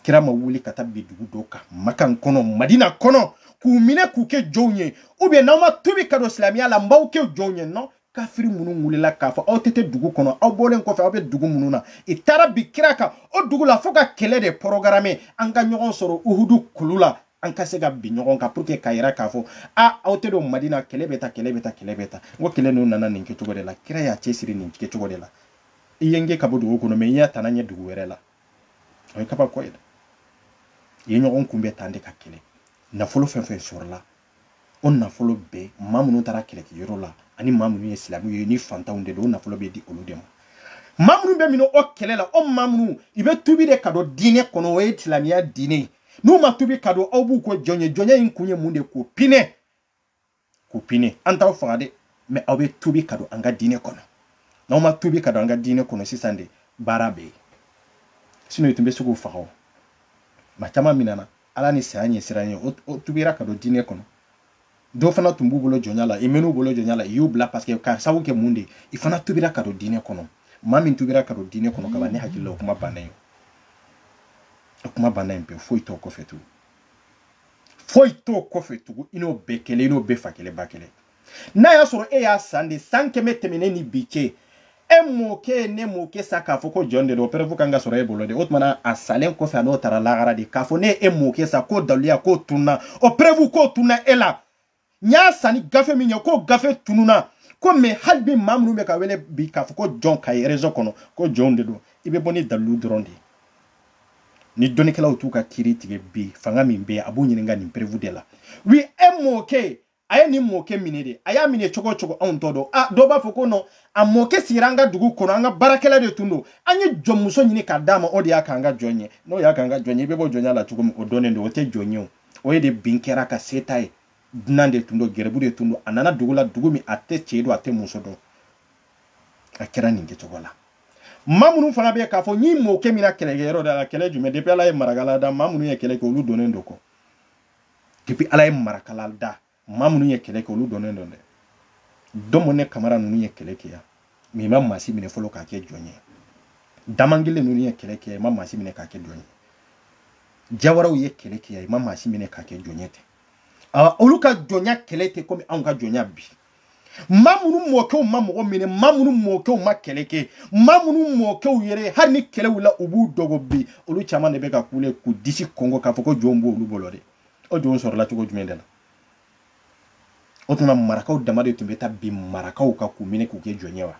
kira ma wuli ka taa bin dugu dɔ kan makan kɔnɔ madina kɔnɔ k'u minɛ k'u kɛ jɔnw ye ou bien n'aw ma tuubi ka don silamɛya la n b'aw kɛ jɔnw ye non kafiri minnu wulila k'a fɔ aw tɛ to dugu kɔnɔ aw bɔlen kɔfɛ aw bɛ dugu minnu na i taara bin kira kan o dugu la fo ka kɛlɛ de porogarame an ka ɲɔgɔn sɔrɔ uhudu kulu la an ka se ka bin ɲɔgɔn kan pour que ka yira k'a fɔ a aw tɛ don madina kɛlɛ bɛɛ ta kɛlɛ bɛɛ ta kɛlɛ bɛɛ ta n ko kɛlɛ ninnu nana nin kɛcogo de la kira y'a cɛsiri nin kɛcogo de la i ye n gɛn ka bɔ dugu kɔnɔ mais n y'a tana ɲɛ dugu wɛrɛ la o ye kabako ye dɛ i ye ɲɔgɔn kunbɛn tan de ka kɛlɛ nafolo fɛn fɛn sɔrɔla o nafolo bɛɛ maa minnu taara kɛlɛkɛyɔrɔ la ani maa minnu ye silamɛw ye ni fantanw de don o nafolo bɛ di olu de ma maa minnu bɛ minɛ o kɛlɛ la o maa minnu i bɛ tubi de ka don diinɛ kɔnɔ o ye silamɛya diinɛ ye n'u ma tubi ka don aw b'u kɛ jɔn ye jɔnya in kun ye mun de k'u pinɛ k'u pinɛ an t'aw faga dɛ mais aw bɛ tubi ka don an ka diinɛ kɔnɔ n'aw ma tubi ka don an ka diinɛ kɔnɔ sisan de baara bɛ yen sinon i tun bɛ se k'u faga o maa caman minɛna a la ni saya ɲɛsiran ye o tubira ka don diinɛ kɔnɔ dɔ fana tun b'u bolo jɔnya la i mɛn'u bolo jɔnya la i y'u bila parce que ka sababu kɛ mun de i fana tubira ka don diinɛ kɔnɔ maa min tubira ka don diinɛ kɔnɔ kaban ne hakili la o kuma banna yen o kuma banna yen pewu foyi t'o kɔfɛ tugun foyi t'o kɔfɛ tugun i n'o bɛɛ kelen i n'o bɛɛ fa kelen ba kelen n'a y'a sɔrɔ e y'a san de san kɛmɛ tɛmɛnen ni bi cɛ e mɔkɛ ne mɔkɛ san k'a fɔ ko jɔn de don preuve kan ka sɔrɔ e bolo de o tuma na a salen kɔfɛ a n'o taara lahara de k'a fɔ ne e mɔkɛ san k'o daliluya k'o tunna o preuve k'o tunna e la n y'a san ni gafe min ye k'o gafe tununa ko mais hali bi maa minnu bɛ ka wele bi k'a fɔ ko jɔn ka ye réseau kɔnɔ ko jɔnw de don i bɛ bɔ ni dalilu dɔrɔn de ye ni dɔnnikɛlaw t'u ka kiiri tigɛ bi fanga min bɛ yen a b'u ɲininka nin preuve de la oui e mɔkɛ a ye nin mɔkɛ minɛ de a y'a minɛ cogo cogo anw t'o dɔn a dɔw b'a fɔ ko non a mɔkɛ sigira an ka dugu kɔnɔ an ka baarakɛla de tun don an ye jɔnmuso ɲini k'a d'a ma o de y'a k'an ka jɔn ye n'o y'a k'an ka jɔn ye i bɛ bɔ jɔnya la cogo min o dɔnnen don o tɛ jɔn ye o o ye de bin kɛr'a kan se t'a ye dunan de tun don garibu de tun don a nana dugu la dugu min a tɛ cɛ dɔn a tɛ muso dɔn a kɛra nin kɛcogo la maa minnu fana bɛ k'a fɔ nin mɔkɛ minɛna kɛlɛkɛyɔrɔ de la kɛlɛ jumɛn depuis ala ye marakala da maa minnu ye kɛlɛ kɛ olu dɔnnen don kɔ depuis ala ye marakala da maa minnu ye kɛlɛ kɛ olu dɔnnen don dɛ dɔmɔ ne kamara ninnu ye kɛlɛ kɛ yan mais i ma maa si minɛ fɔlɔ k'a kɛ jɔn ye daman gile ninnu ye kɛlɛ kɛ yan i ma maa si minɛ k'a kɛ jɔn ye jawaraw ye kɛlɛ kɛ yan i ma maa si minɛ k'a kɛ jɔn ye tɛ olu ka jɔnya kɛlen tɛ komi anw ka jɔnya bi maa minnu mɔkɛw ma mɔgɔ minɛ maa minnu mɔkɛw ma kɛlɛ kɛ maa minnu mɔkɛw yɛrɛ hali ni kɛlɛ wulila u b'u dogo bi olu caman de bɛ ka kule k'u disi kɔnkɔn k'a fɔ ko jɔnw b'olu bolo de o jɔnw sɔrɔla cogo jumɛn de la o tuma marakaw dama de tun bɛ taa bin marakaw kan k'u minɛ k'u kɛ jɔn ye wa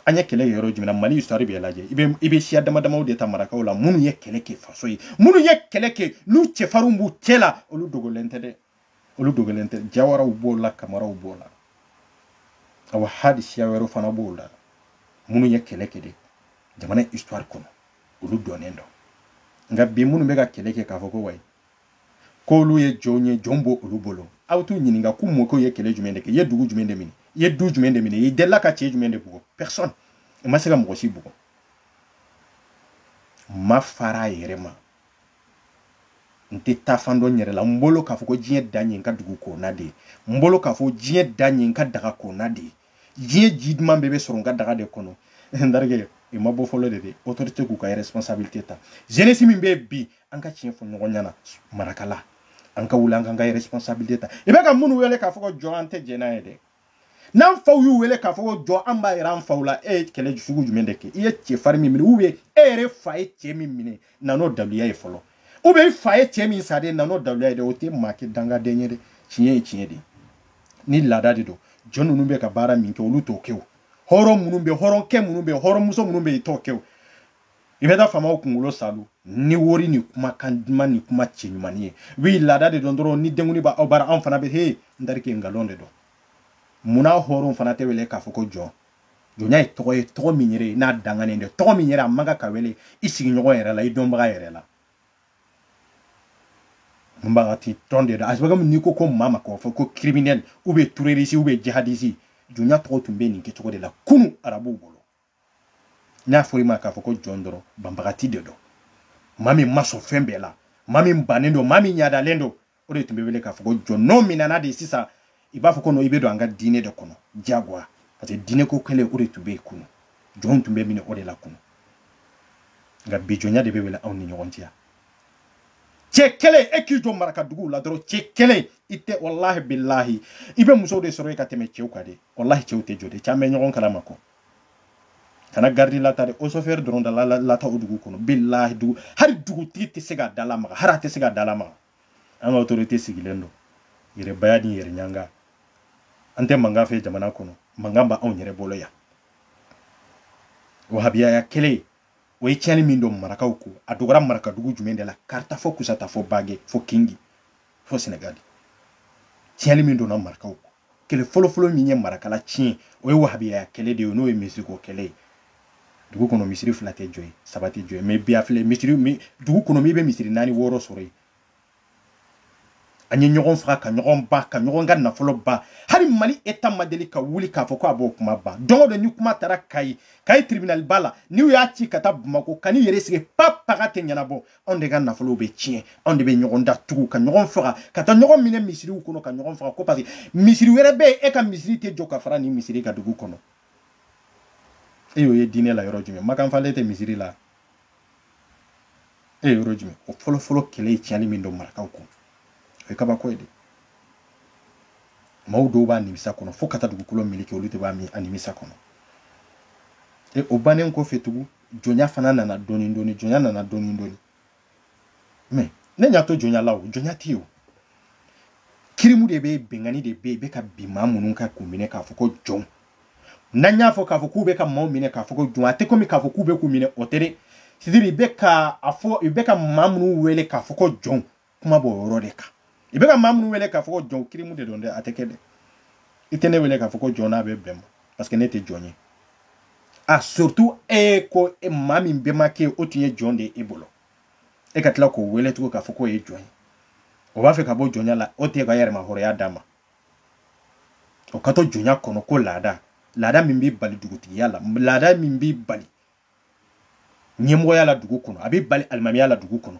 an ye kɛlɛ yɔrɔ jumɛn na mali histoire bɛɛ lajɛ i bɛ i bɛ siya dama damaw de ta marakaw la minnu ye kɛlɛ kɛ faso ye minnu ye kɛlɛ kɛ n'u cɛfarinw b'u cɛ la olu dogolen tɛ dɛ olu dogolen tɛ jawaraw b'o la kamaraw b'o la awa hali siya wɛrɛw fana b'o la minnu ye kɛlɛ kɛ de jamana histoire kɔnɔ olu dɔnnen don nka bi minnu bɛ ka kɛlɛ kɛ k'a fɔ ko wayi k'olu ye jɔnw ye jɔn b'olu bolo aw t'u ɲininka k'u mɔkɛw ye kɛlɛ jumɛn de kɛ i ye dugu jumɛn de minɛ i ye du jumɛn de minɛ i delila ka cɛ jumɛn de bugɔ personne i ma se ka mɔgɔ si bugɔ ma fara a yɛrɛ ma n tɛ taafan dɔn n yɛrɛ la n bolo k'a fɔ ko diɲɛ dan ye n ka dugu kɔnɔna de ye n bolo k'a fɔ diɲɛ dan ye n ka daga kɔnɔna de ye diɲɛ ji duman bɛɛ bɛ sɔrɔ n ka daga de kɔnɔ n terikɛ i ma bɔ fɔlɔ de dɛ autorité k'u ka responsabilité ta jeunesse min bɛ bi an ka tiɲɛ fɔ ɲɔgɔn ɲɛna marakala an ka wuli an k'an ka responsabilité ta i bɛ ka minnu wele k'a fɔ ko jɔn an tɛ jɛn n'a ye dɛ n'an faw y'u wele k'a fɔ ko jɔn an b'a yira an faw la e ye kɛlɛ sugu jumɛn de kɛ i ye cɛfarin min minɛ ou bien e yɛrɛ fa ye cɛ min minɛ na n'o daluya ye fɔlɔ ou bien i fa ye cɛ min sa de na n'o daluya ye dɛ o tɛ maa kɛ dangaden ye dɛ tiɲɛ ye tiɲɛ de ye ni laada de don jɔn ninnu bɛ ka baara min kɛ olu t'o kɛ o hɔrɔn minnu bɛ hɔrɔnkɛ minnu bɛ hɔrɔnmuso minnu bɛ i t'o kɛ o i bɛ taa faamaw kunkolo saalo ni wori ni kumakan duman ni kuma cɛ ɲuman ye wi laada de don dɔrɔn ni denkundi b'aw bara anw fana bɛ he n terikɛ nkalon de don munna hɔrɔnw fana tɛ wele k'a fɔ ko jɔn jɔnya ye tɔgɔ ye tɔgɔ min yɛrɛ n'a danganen dɛ tɔgɔ min yɛrɛ a man kan ka wele i sigiɲɔgɔn yɛrɛ la i dɔnbaga yɛrɛ la mun banbagati tɔgɔ de don a sababu n'i ko maa ma k'a fɔ ko criminel ou bien terroriste ou bien jihadiste jɔnya tɔgɔ tun bɛ nin kɛcogo de la kunu arabuw bolo n'a fɔra i ma k'a fɔ ko jɔn dɔrɔn banbagati de don maa min ma sɔn fɛn bɛɛ la maa min bannen don maa min ɲadalen don o de tun bɛ wele k'a fɔ ko jɔn n'o minɛna de sisan i b'a fɔ ko i bɛ don an ka diinɛ de kɔnɔ diyagoya parce que diinɛ ko kɛlɛ o de tun bɛ yen kunu jɔnw tun bɛ minɛ o de la kunu nka bi jɔnya de bɛ wele anw ni ɲɔgɔn cɛ cɛ kelen e k'i jɔ maraka duguw la dɔrɔn cɛ kelen i tɛ walahi bilahi i bɛ musow de sɔrɔ i ka tɛmɛ cɛw kan de walahi cɛw tɛ jɔ dɛ caman bɛ ɲɔgɔn kalama kɔ kana garidi lata de o sofɛri dɔrɔn da lata o dugu kɔnɔ bilahi dugu hali dugutigi tɛ se ka da lamaga hali a tɛ se ka da lamaga an ka autorité sigilen don yɛrɛbaya ni yɛrɛɲanga an tɛ mankan fɛ jamana kɔnɔ mankan b'anw yɛrɛ bolo yan wahabiyaya kelen o ye tiɲɛni min don marakaw ko a dogora marakadugu jumɛn de la kaarta fo kusata fo bage fo kingi fo senegali tiɲɛni min donna marakaw ko kɛlɛ fɔlɔfɔlɔ min ye marakala tiɲɛ o ye wahabiyaya kɛlɛ de ye n'o ye misiriko kɛlɛ ye dugu kɔnɔ misiri fila tɛ jɔ yen saba tɛ jɔ yen mais bi a filɛ misiri dugu kɔnɔ min bɛ misiri naani wɔɔrɔ sɔrɔ yen an ye ɲɔgɔn faga ka ɲɔgɔn ban ka ɲɔgɔn ka nafolo ban hali mali état ma deli ka wuli k'a fɔ ko a b'o kuma ban don o don ni kuma taara kayi kayi tribunal ba la n'u y'a ci ka taa bamako kan'i yɛrɛ sigi pa paga tɛ ɲɛnabɔ anw de ka nafolow bɛ tiɲɛ anw de bɛ ɲɔgɔn datugu ka ɲɔgɔn faga ka taa ɲɔgɔn minɛ misiriw kɔnɔ ka ɲɔgɔn faga ko parce que misiri wɛrɛ bɛ yen e ka misiri tɛ jɔ ka fara nin misiri kan dugu kɔnɔ e y'o ye diinɛ la yɔrɔ jumɛn makan falen tɛ misiri la e ye yɔrɔ jumɛn o fɔlɔfɔlɔ kɛlɛ ye tiɲɛni min don marakaw kun o ye kabako ye de maaw dɔw b'a nimisa kɔnɔ fo ka taa dugukolo mɛlɛkɛ olu de b'a mi a nimisa kɔnɔ e o bannen kɔfɛ tugun jɔnya fana nana dɔɔni dɔɔni jɔnya nana dɔɔni dɔɔni mais ne ɲa t'o jɔnya la o jɔnya tɛ yen o kirimu de bɛ binkanni de bɛ yen i bɛ ka bin maa minnu kan k'u minɛ k'a fɔ ko jɔn n'an y'a fɔ k'a fɔ k'u bɛ ka maaw minɛ k'a fɔ ko jɔn a tɛ komi k'a fɔ k'u bɛ k'u minɛ o tɛ dɛ c'est-à-dire i bɛ ka a fɔ i bɛ ka maa minnu wele k'a fɔ ko jɔn kuma b'o yɔrɔ de kan i bɛ ka maa minnu wele k'a fɔ ko jɔn kirimu de don dɛ a tɛ kɛ dɛ i tɛ ne wele k'a fɔ ko jɔn n'a bɛ bɛn ma parce que ne tɛ jɔn ye a surtout e ko e maa min bɛnbakɛ o tun ye jɔn de ye e bolo e ka tila k'o wele tugun k'a fɔ k'o ye jɔn ye o b'a fɛ ka bɔ jɔnya la o t'a ka yɛrɛmahɔrɔnya d'a ma o ka to jɔnya kɔnɔ ko laada laada min b'i bali dugutigiya la laada min b'i bali ɲɛmɔgɔya la dugu kɔnɔ a b'i bali alimamiya la dugu kɔnɔ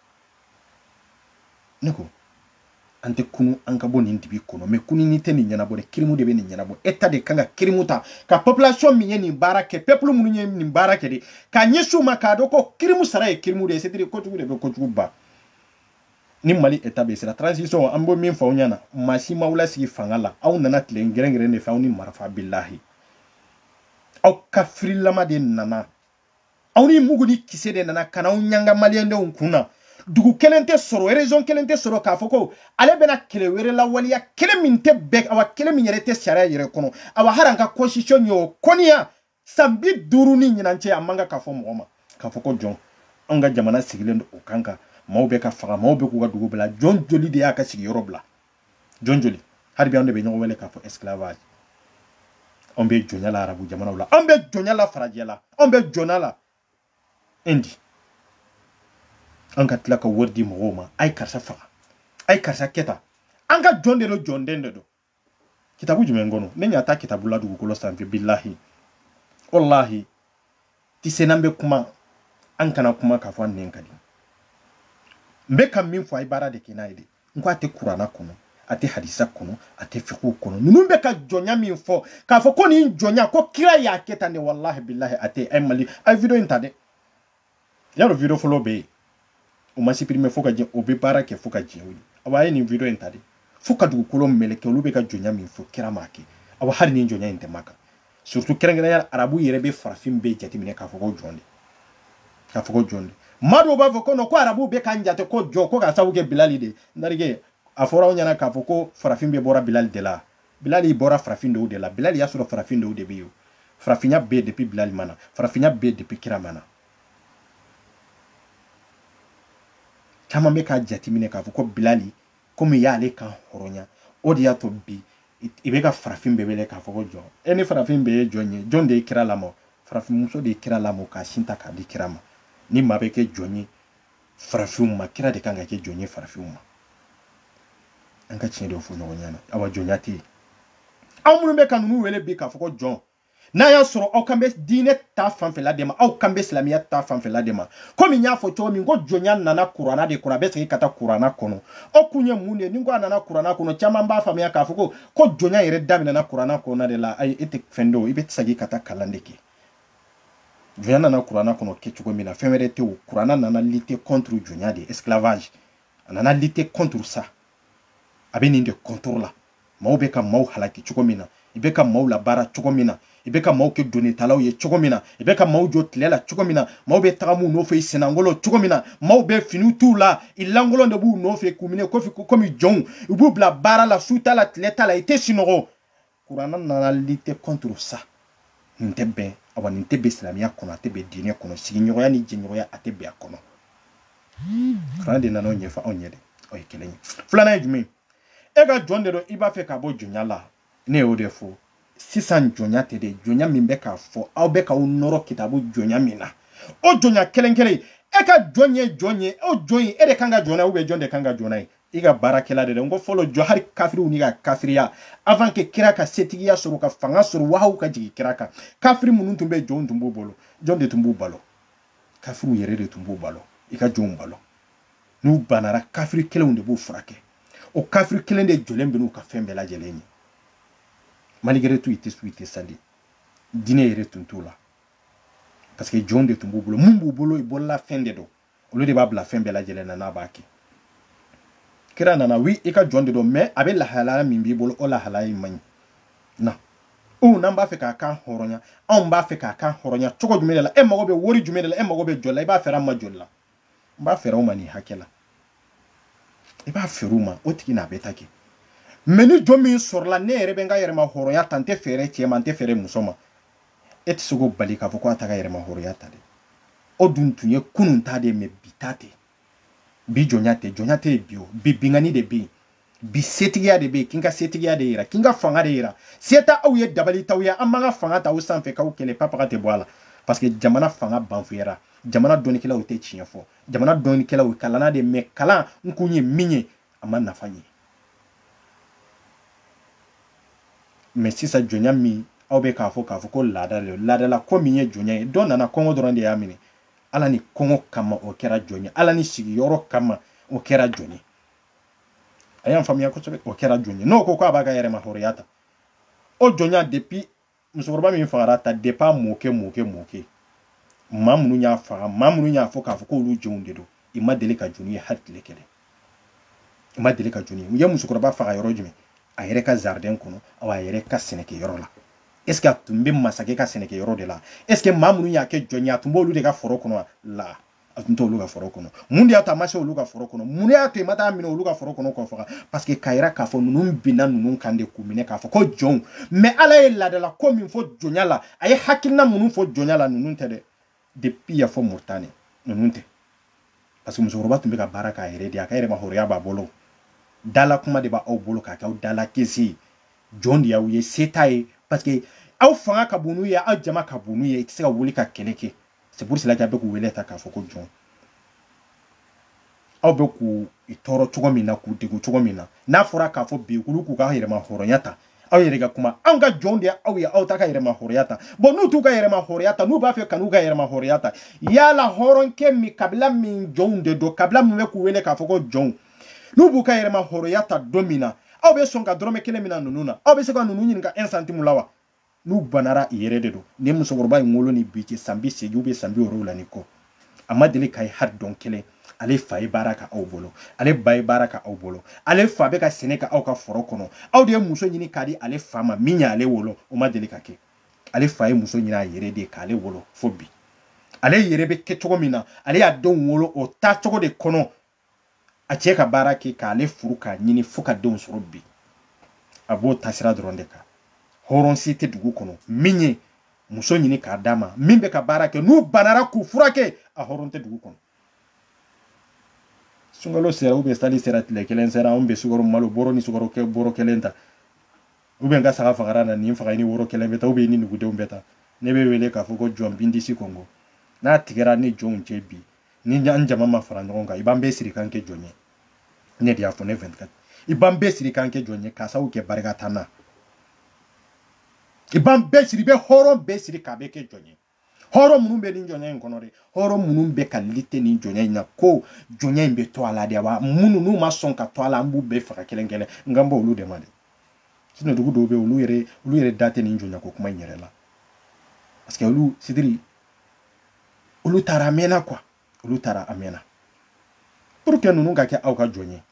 ne ko an tɛ kunun an ka bɔ nin dibi kɔnɔ mais kununni tɛ nin ɲɛnabɔ dɛ kirimu de bɛ nin ɲɛnabɔ état de kan ka kirimu ta ka population min ye nin baara kɛ peuple minnu ye nin baara kɛ de k'a ɲɛsin u ma k'a dɔn ko kirimu sara ye kirimu de ye c'est-à-dire kojugu de bɛ kojugu ban ni mali état bɛ sira transition an bɛ min fɔ aw ɲɛna maa si m'aw lasigi fanga la aw nana tile gɛrɛngɛrɛn de fɛ aw ni marifa bilahi aw kafirilama de nana aw ni mugu ni kisɛ de nana ka n'aw ɲanga maliyɛndenw kun na dugu kelen tɛ sɔrɔ région kelen tɛ sɔrɔ k'a fɔ ko ale bɛna kɛlɛ wɛrɛ lawaleya kɛlɛ min tɛ bɛn awa kɛlɛ min yɛrɛ tɛ sariya yɛrɛ kɔnɔ awa hali an ka constitution ye o kɔniya san bi duuru ni ɲinan cɛ a man kan ka fɔ mɔgɔ ma k'a fɔ ko jɔn anw ka jamana sigilen don o kan kan maaw bɛ ka faga maaw bɛ k'u ka dugu bila jɔn joli de y'a ka sigiyɔrɔ bila jɔn joli hali bi an de bɛ ɲɔgɔn wele k'a fɔ esclavage anw bɛ jɔnya la arabu jamanaw la anw bɛ jɔnya la farajɛ la anw bɛ jɔnya la indi an ka tila ka wari di mɔgɔw ma a ye karisa faga a ye karisa kɛ tan an ka jɔn de don jɔnden de don kitabu jumɛn kɔnɔ ne ɲa t'a kitabu la dugukolo sanfɛ bilahi walahi ti se n'an bɛ kuma an kana kuma k'a fɔ an nɛn ka di n bɛ ka min fɔ a ye baara de kɛ n'a ye de n ko a tɛ kurana kɔnɔ a tɛ hadisa kɔnɔ a tɛ fiqhu kɔnɔ ninnu bɛ ka jɔnya min fɔ k'a fɔ ko nin jɔnya ko kira y'a kɛ tan de walahi bilahi a tɛ a mali a ye video in ta dɛ y'a dɔn video fɔlɔ bɛ yen o ma supprimer fo ka jɛ o bɛ baara kɛ fo ka jɛ o ye awa a ye nin video in ta de fo ka dugukolo mɛlɛkɛ olu bɛ ka jɔnya min fɔ kira m'a kɛ awa hali nin jɔnya in tɛ makan surtout kɛrɛnkɛrɛnya arabu yɛrɛ bɛ farafin bɛɛ jateminɛ k'a fɔ ko jɔn de k'a fɔ ko jɔn de maa dɔw b'a fɔ ko non ko arabu bɛ k'an jate ko jɔn ko k'a sababu kɛ bilali de ndarike a fɔra aw ɲɛna k'a fɔ ko farafin bɛɛ bɔra bilali de la bilali bɔra farafin dɔw de la bilali y'a sɔrɔ farafin dɔw de bɛ yen farafinya bɛ yen depuis bilali ma na farafinya bɛ yen depuis kira ma na caman bɛ k'a jateminɛ k'a fɔ ko bilali komi y'ale kan hɔrɔnya o de y'a to bi i bɛ ka farafin bɛɛ wele k'a fɔ ko jɔn e ni farafin bɛɛ ye jɔn ye jɔn de ye kira lamɔ farafinmuso de ye kira lamɔ k'a sin ta k'a di kira ma ni maa bɛ kɛ jɔn ye farafinw ma kira de kan ka kɛ jɔn ye farafinw ma an ka tiɲɛ de fɔ ɲɔgɔn ɲɛna awa jɔnya tɛ yen aw minnu bɛ ka ninnu wele bi k'a fɔ ko jɔn n'a y'a sɔrɔ aw kan bɛ diinɛ ta fanfɛla de ma aw kan bɛ silamɛya ta fanfɛla de ma komi n y'a fɔ cogo min ko jɔnya nana kurana de kɔnɔ a bɛ segin ka taa kurana kɔnɔ o kun ye mun de ye ni ko a nana kurana kɔnɔ caman b'a faamuya k'a fɔ ko ko jɔnya yɛrɛ daminɛna kurana kɔnɔna de la ayi e tɛ fɛn dɔn i bɛ segin ka taa kalan de kɛ jɔnya nana kurana kɔnɔ kɛ cogo min na fɛn wɛrɛ tɛ o kurana nana lutter contre jɔnya de esclavage a nana lutter contre ça a bɛ nin de contre la Maaw bɛ ka maaw halaki cogo min na, i bɛ ka maaw labaara cogo min na, i bɛ ka maaw kɛ donnitalaw ye cogo min na, i bɛ ka maaw jɔ tile la cogo min na, maaw bɛ tagama u nɔfɛ i sennankolon cogo min na, maaw bɛ finiw t'u la, i lankolon de b'u nɔfɛ k'u minɛ kofi komi jɔnw, u b'u bila baara la su t'a la tile t'a la, i tɛ sinɔgɔ. Kurana nana lutter contre ça, nin tɛ bɛn, awa nin tɛ bɛn silamiya kɔnɔ, a tɛ bɛn diinɛ kɔnɔ, sigiɲɔgɔnya ni jɛɲɔgɔnya a tɛ bɛn a kɔnɔ. Kurana de nana o ɲɛfɔ anw ye dɛ, o ye kelen ye. Filanan ye jumɛn ye? e ka jɔn de don i b'a fɛ ka bɔ jɔnya la ne y'o de fɔ sisan jɔnya tɛ dɛ jɔnya min bɛ k'a fɔ aw bɛ k'aw nɔrɔ kitabu jɔnya min na o jɔnya kelen kelen e ka jɔn ye jɔn ye o jɔn ye e de kan ka jɔn na ou bien jɔn de kan ka jɔn na ye i ka baarakɛla de dɛ n ko fɔlɔ jɔn hali kafiriw n'u ka kafiriya avant que kira ka setigiya sɔrɔ ka fanga sɔrɔ wahayu ka jigin kira kan kafiri minnu tun bɛ jɔnw tun b'u bolo jɔn de tun b'u balo kafiriw yɛrɛ de tun b'u balo i ka jɔnw balo n'u banara kafiri kelenw de b'u furakɛ o kafiri kelen de jɔlen bɛ n'u ka fɛn bɛɛ lajɛlen ye malgré tout i tɛ sun i tɛ sali diinɛ yɛrɛ tun t'u la parce que jɔnw de tun b'u bolo mun b'u bolo i bolola fɛn de don olu de b'a bila fɛn bɛɛ lajɛlen na n'a b'a kɛ kira nana oui i ka jɔn de don mais a bɛ lahalaya min b'i bolo o lahalaya in man ɲi na u n'an b'a fɛ k'a kan hɔrɔnya anw b'a fɛ k'a kan hɔrɔnya cogo jumɛn de la e mago bɛ wari jumɛn de la e mago bɛ jɔn na i b'a feere an ma joli la n b'a feere o ma nin hakɛ la i b'a feere o ma o tigi n'a bɛ taa kɛ mais ni jɔn min sɔrɔla ne yɛrɛ bɛ n ka yɛrɛma hɔrɔnya ta n tɛ feere cɛ ma n tɛ feere muso ma e tɛ se k'o bali k'a fɔ ko a t'a ka yɛrɛma hɔrɔnya ta dɛ o dun tun ye kunun ta de mais bi ta tɛ bi jɔnya tɛ jɔnya tɛ yen bi o bi binkanni de bɛ yen bi setigiya de bɛ yen k'i ka setigiya de yira k'i ka fanga de yira se tɛ aw ye dabali t'aw ye an b'an ka fanga ta aw sanfɛ k'aw kɛlɛ papaga tɛ bɔ a la parce que jamana fanga banfuyara jamana dɔnnikɛlaw tɛ tiɲɛ fɔ jamana dɔnnikɛlaw kalanna de mais kalan in kun ye min ye a ma nafa ɲɛ mais sisan jɔnya min aw bɛ k'a fɔ k'a fɔ ko laada de don laadala ko min ye jɔnya ye dɔ nana kɔngɔ dɔrɔn de y'a minɛ a nalen kɔngɔ kama o kɛra jɔn ye a nalen sigiyɔrɔ kama o kɛra jɔn ye a y'an faamuya kosɛbɛ o kɛra jɔn ye n'o ko k'a b'a ka yɛrɛma hɔrɔnya ta o jɔnya depuis musokɔrɔba min fagara tan depuis a mɔkɛ mɔkɛ mɔkɛ maa minnu y'a faga maa minnu y'a fɔ k'a fɔ k'olu jɔnw de don i ma deli ka jɔn ye hali tile kelen i ma deli ka jɔn ye u ye musokɔrɔba faga yɔrɔ jumɛn a yɛrɛ ka jardin kɔnɔ aw a yɛrɛ ka sɛnɛkɛyɔrɔ la est ce que a tun bɛ masakɛ ka sɛnɛkɛyɔrɔ de la est ce que maa minnu y'a kɛ jɔn ye a tun b'olu de ka foro kɔnɔ la a tun tɛ olu ka foro kɔnɔ mun de y'a to a ma se olu ka foro kɔnɔ mun de y'a to i ma taa minɛ olu ka foro kɔnɔ k'o faga parce que k'a yira k'a fɔ ninnu binna ninnu kan de k'u minɛ k'a fɔ ko jɔnw mais ala ye laadala ko min fɔ jɔnya la a ye hakilina minnu fɔ jɔnya la ninnu tɛ dɛ depuis yan fo moritani ninnu tɛ parce que musokɔrɔba tun bɛ ka baara k'a yɛrɛ de a ka yɛrɛma hɔrɔnya b'a bolo dala kuma de b'aw bolo k'a kɛ aw dala kisi jɔn de y'aw ye se t'a ye parce que aw fanga ka bon n'u ye aw jama ka bon n'u ye i tɛ se ka wuli ka kɛlɛ kɛ c'est pour cela que a bɛ k'u wele tan k'a fɔ ko jɔn aw bɛ k'u tɔɔrɔ cogo min na k'u degun cogo min na n'a fɔra k'a fɔ bi olu k'u ka yɛrɛma hɔrɔnya ta aw yɛrɛ ka kuma anw ka jɔnw de aw ye aw t'aw ka yɛrɛma hɔrɔnya ta bon n'u t'u ka yɛrɛma hɔrɔnya ta n'u b'a fɛ ka n'u ka yɛrɛma hɔrɔnya ta yala hɔrɔnkɛ min kabila min jɔnw de don kabila min bɛ k'u wele k'a fɔ ko jɔnw n'u b'u ka yɛrɛma hɔrɔnya ta don min na aw bɛ sɔn ka dɔrɔmɛ kelen minɛ ninnu na aw bɛ se ka ninnu ɲininka un centime la wa n'u banara u yɛrɛ de don ni musokɔrɔba in wolo ni bi cɛ san bi seegin bɛ san bi wolonwula ni kɔ a ma deli k'a ye hali don kelen ale fa ye baara kɛ aw bolo ale ba ye baara kɛ aw bolo ale fa bɛ ka sɛnɛ kɛ aw ka foro kɔnɔ aw de ye muso ɲini k'a di ale fa ma min y'ale wolo o ma deli ka kɛ ale fa ye muso ɲini a yɛrɛ de k'ale wolo fo bi ale yɛrɛ bɛ kɛ cogo min na ale y'a denw wolo o taacogo de kɔnɔ a cɛ ka baara kɛ k'ale furu k'a ɲini fo ka denw sɔrɔ bi a b'o taasira dɔrɔn de kan hɔrɔn si tɛ dugu kɔnɔ min ye muso ɲini k'a d'a ma min bɛ ka baara kɛ n'u banara k'u furakɛ a hɔrɔn tɛ dugu kɔnɔ sunkalo sera ou bien sali sera tile kelen sera anw bɛ sukaro malo bɔrɔ ni sukaro kɛ bɔrɔ kelen ta ou bien n ka saga fagara na nin fagalen woro kelen bɛ ta ou bien ni nugudenw bɛ ta ne bɛ wele k'a fɔ ko jɔn bindisi kɔngɔ n'a tigɛra ni jɔnw cɛ bi ni an jama ma fara ɲɔgɔn kan i b'an bɛɛ siri k'an kɛ jɔn ye ne de y'a fɔ ne 24 i b'an bɛɛ siri k'an kɛ jɔn ye k'a sababu kɛ barika t'an na i b'an bɛɛ siri i bɛ hɔrɔn bɛɛ siri k'a bɛɛ kɛ jɔn ye hɔrɔn minnu bɛ nin jɔnya in kɔnɔ dɛ hɔrɔn minnu bɛ ka lite nin jɔnya in na ko jɔnya in bɛ to a la de wa minnu n'u ma sɔn ka to a la an b'u bɛɛ faga kelen kelen n kan b'olu de ma dɛ sinɔn dugu dɔw bɛ olu yɛrɛ olu yɛrɛ da tɛ nin jɔnya ko kuma in yɛrɛ la parce que olu sidiri olu taara a mɛnna quoi olu taara a mɛnna pour que ninnu ka kɛ aw ka jɔn ye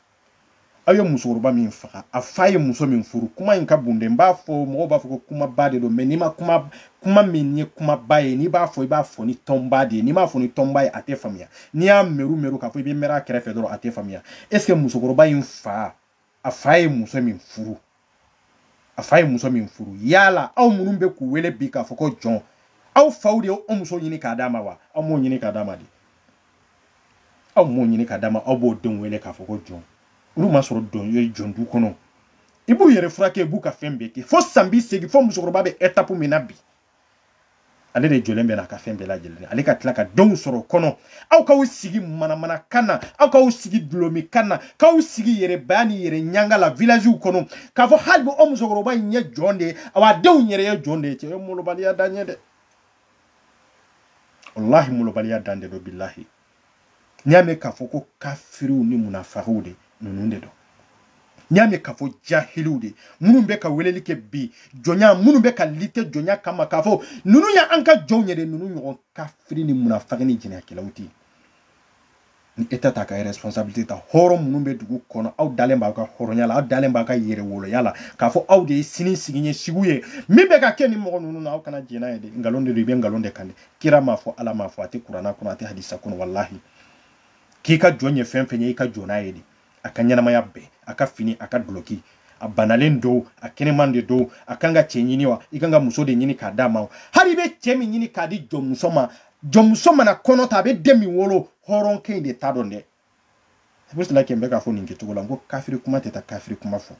aw ye musokɔrɔba min faga a fa ye muso min furu kuma in ka bon dɛ n b'a fɔ mɔgɔw b'a fɔ ko kumaba de don mɛ n'i ma kuma kuma min ye kumaba ye n'i b'a fɔ i b'a fɔ ni tɔnba de ye n'i m'a fɔ ni tɔnba ye a tɛ faamuya n'i y'a meru meru k'a fɔ i bɛ mɛrɛ a kɛrɛfɛ dɔrɔn a tɛ faamuya est ce que musokɔrɔba in fa a fa ye muso min furu a fa ye muso min furu yala aw minnu bɛ k'u wele bi k'a fɔ ko jɔn aw faw de ye o muso ɲini k'a d'a ma wa aw m'o ɲini k'a d'a ma de aw m'o ɲini k'a d'a ma aw b'o denw wele k'a fɔ ko jɔn olu ma sɔrɔ dɔn ye jɔn du kɔnɔ i b'u yɛrɛ furakɛ i b'u ka fɛn bɛɛ kɛ fo san bi segin fo musokɔrɔba bɛ etapu min na bi ale de jɔlen bɛ n'a ka fɛn bɛɛ lajɛlen ale ka tila ka denw sɔrɔ o kɔnɔ aw k'aw sigi manamana kan na aw k'aw sigi dɔlɔmin kan na k'aw sigi yɛrɛbaya ni yɛrɛ ɲanga la villagew kɔnɔ k'a fɔ hali bi o musokɔrɔba in ye jɔn de ye awa denw yɛrɛ ye jɔn de ye cɛ ye molobaliya dan ye dɛ walahi molobaliya dan de don bilahi n'i y'a mɛn k'a fɔ ko kafiriw ni munafagiw de ninnu de don n'i y'a mɛn k'a fɔ jahiliw de minnu bɛ ka weleli kɛ bi jɔnya minnu bɛ ka lite jɔnya kama k'a fɔ ninnu ye an ka jɔnw ye de ninnu ɲɔgɔn kafiri ni munafagi ni jɛnɛyakɛlaw tɛ yen ni eta t'a ka responsabilité ta hɔrɔn minnu bɛ dugu kɔnɔ aw dalen b'aw ka hɔrɔnya la aw dalen b'aw ka yɛrɛwoloya la k'a fɔ aw de ye sini sigi ɲɛsigiw ye min bɛ ka kɛ nin mɔgɔ ninnu na aw kana jɛn n'a ye dɛ nkalon de don i bɛ nkalon de kan dɛ kira m'a fɔ ala m'a fɔ a tɛ kurana kɔnɔ a tɛ hadisa kɔnɔ walahi k'i ka jɔn ye fɛn fɛn ye i ka jɔn n'a ye de a ka ɲɛnamaya bɛɛ a ka fini a ka dulɔki a banalen don a kɛnɛman de don a kan ka cɛ ɲini wa i kan ka muso de ɲini k'a d'a ma hali i bɛ cɛ min ɲini k'a di jɔnmuso ma jɔnmuso mana kɔnɔ ta a bɛ den min wolo hɔrɔnkɛ in de ta don dɛ pour cela que n bɛ k'a fɔ nin kɛcogo la n ko kafiri kuma tɛ taa kafiri kuma fɔ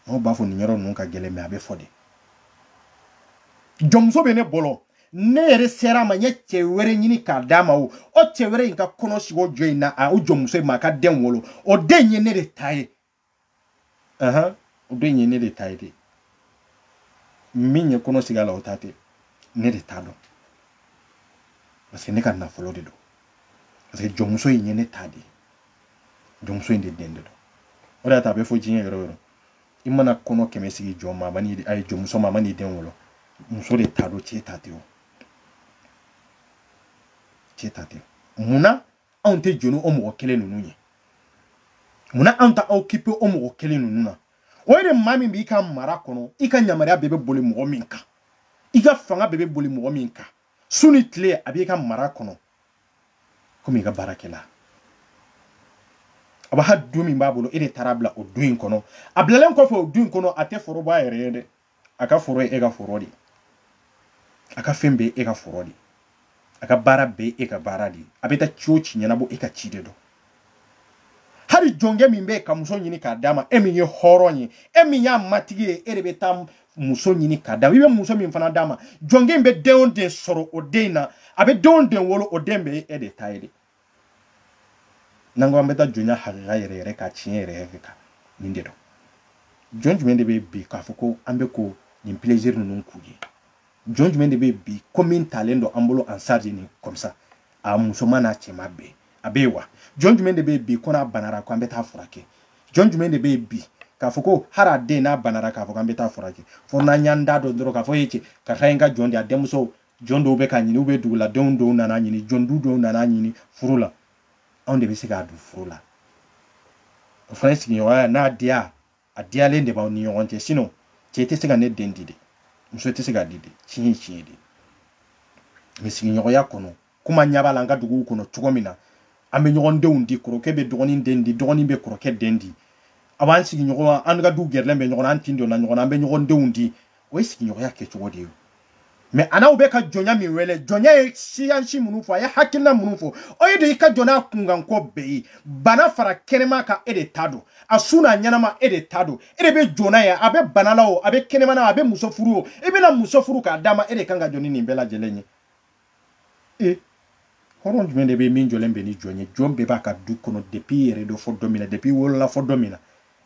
mɔgɔw b'a fɔ nin yɔrɔ ninnu ka gɛlɛn mɛ a bɛ fɔ de jɔnmuso bɛ ne bolo ne yɛrɛ sera a ma n ye cɛ wɛrɛ ɲini k'a d'a ma o o cɛ wɛrɛ in ka kɔnɔ sigi o jɔn in na a o jɔnmuso in ma a ka den wolo o den ye ne de ta ye ahan o den ye ne de ta ye de min ye kɔnɔ sigi a la o ta tɛ ne de ta don parce que ne ka nafolo de don parce que jɔnmuso in ye ne ta de ye jɔnmuso in de den de don o de y'a to a bɛ fɔ diɲɛ yɔrɔ yɔrɔ i mana kɔnɔ kɛmɛ sigi jɔn ma a ma n'i a ye jɔnmuso ma a mana den wolo muso de ta don cɛ ta tɛ o cɛ ta tɛ mun na anw tɛ jɔ ni o mɔgɔ kelen ninnu ye munna anw t'an occupé o mɔgɔ kelen ninnu na o ye de maa min b'i ka mara kɔnɔ i ka yamaruya bɛɛ bɛ boli mɔgɔ min kan i ka fanga bɛɛ bɛ boli mɔgɔ min kan su ni tile a b'i ka mara kɔnɔ komi i ka baarakɛla a b'a hali du min b'a bolo e de taar'a bila o du in kɔnɔ a bilalen kɔfɛ o du in kɔnɔ a tɛ foro b'a yɛrɛ ye dɛ a ka foro ye e ka foro de ye a ka fɛn bɛɛ e ka foro de ye a ka baara bɛɛ e ka baara de ye a bɛ taa ci o ci ɲɛnabɔ e ka ci de don hali jɔnkɛ min bɛ ka muso ɲini k'a d'a ma e min ye hɔrɔn ye e min y'a matigi ye e de bɛ taa muso ɲini k'a d'a ma i bɛ muso min fana d'a ma jɔnkɛ in bɛ den o den sɔrɔ o den in na a bɛ den o den wolo o den bɛɛ e de ta ye de n'an ko an bɛ taa jɔnya hakika yɛrɛ yɛrɛ kan tiɲɛ yɛrɛ yɛrɛ kan nin de don jɔn jumɛn de bɛ bi k'a fɔ ko an bɛ ko nin plaisir ninnu k'u ye jɔn jumɛn de bɛ bi ko min talen don an bolo en charge nin comme ça a musoman n'a cɛman bɛɛ a bɛ yen wa jɔn jumɛn de bɛ bi ko n'a banara ko an bɛ taa furakɛ jɔn jumɛn de bɛ bi k'a fɔ ko hali a den n'a banara k'a fɔ k'an bɛ taa furakɛ fo n'an y'an da don dɔrɔn k'a fɔ ye cɛ karisa ye n ka jɔn de a denmuso Jɔn dɔw bɛ k'a ɲini u bɛ duguladenw dɔw nana ɲini jɔn du dɔw nana ɲini furu la anw de bɛ se k'a don furu la o fana ye sigiɲɔgɔnya n'a diya a diyalen de b'aw ni ɲɔgɔn cɛ sinon cɛ tɛ se ka ne den di dɛ muso tɛ se k'a di dɛ tiɲɛ ye tiɲɛ de mais sigiɲɔgɔnya kɔnɔ kuma ɲɛ b'a la an ka duguw kɔnɔ cogo min na an bɛ ɲɔgɔn denw di kɔrɔkɛ bɛ dɔgɔnin den di dɔgɔnin bɛ kɔrɔkɛ den di a b'an sigiɲɔgɔn an ka du gɛrɛlen bɛ ɲɔgɔn an tin donna ɲɔgɔn an bɛ ɲɔgɔn denw di o ye sigiɲɔgɔnya kɛ cogo de ye mais an'aw bɛ ka jɔnya min wele jɔnya ye siyansi minnu fɔ a ye hakilina minnu fɔ o ye de i ka jɔ n'a kunkanko bɛɛ ye bana fara kɛnɛma kan e de ta don a su n'a ɲɛnama e de ta don e de bɛ jɔ n'a ye a bɛ bana la o a bɛ kɛnɛma na a bɛ muso furu o i bɛna muso furu k'a d'a ma e de kan ka jɔ ni nin bɛɛ lajɛlen ye e hɔrɔn jumɛn de bɛ min jɔlen bɛ ni jɔn ye jɔn bɛɛ b'a ka du kɔnɔ depuis i yɛrɛ don fo don min na depuis i wolola fo don min na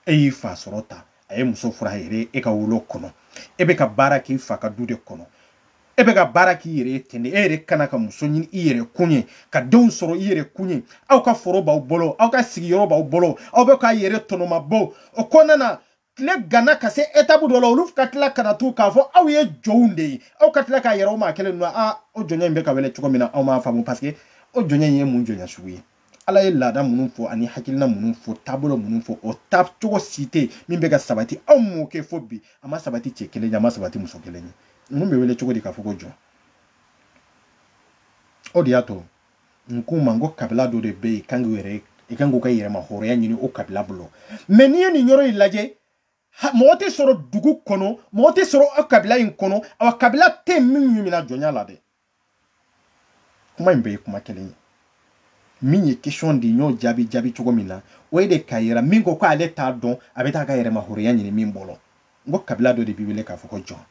e y'i fa sɔrɔ tan a ye muso furu a yɛrɛ ye ka wolo kɔnɔ e bɛ ka baara k'i fa ka du de kɔnɔ e bɛ ka baara k'i yɛrɛ ye ten de e yɛrɛ ka na ka muso ɲini i yɛrɛ kun ye ka denw sɔrɔ i yɛrɛ kun ye aw ka foro b'aw bolo aw ka sigiyɔrɔ b'aw bolo aw bɛ k'aw yɛrɛ tɔnɔmabɔ o kɔnɔna na tile ganna ka se etapu dɔ la olu ka tila ka na tugun k'a fɔ aw ye jɔnw de ye aw ka tila k'a yɛrɛ o maa kelen ninnu a o jɔnya in bɛ ka wele cogo min na aw m'a faamu parce que o jɔnya in ye mun jɔnya sugu ye ala ye laada minnu fɔ ani hakilina minnu fɔ taabolo minnu fɔ o ta cogo si tɛ min bɛ ka sabati aw m'o kɛ fo bi a ma sabati cɛ kelen ye a ma sabati muso kelen ye ninnu bɛ wele cogo di k'a fɔ ko jɔn o de y'a to n k'u ma n ko kabila dɔ de bɛ yen kan k'u yɛrɛ i kan k'u ka yɛrɛma hɔrɔnya ɲini o kabila bolo mɛ n'i ye nin yɔrɔ in lajɛ mɔgɔ tɛ sɔrɔ dugu kɔnɔ mɔgɔ tɛ sɔrɔ aw kabila in kɔnɔ aw kabila tɛ min y'u mina jɔnya la dɛ kuma in bɛɛ ye kuma kelen ye min ye question di n y'o jaabi jaabi cogo min na o ye de k'a yira min ko k'ale t'a dɔn a bɛ taa ka yɛrɛma hɔrɔnya ɲini min bolo n ko kabila dɔ de b'i wele k'a fɔ ko jɔn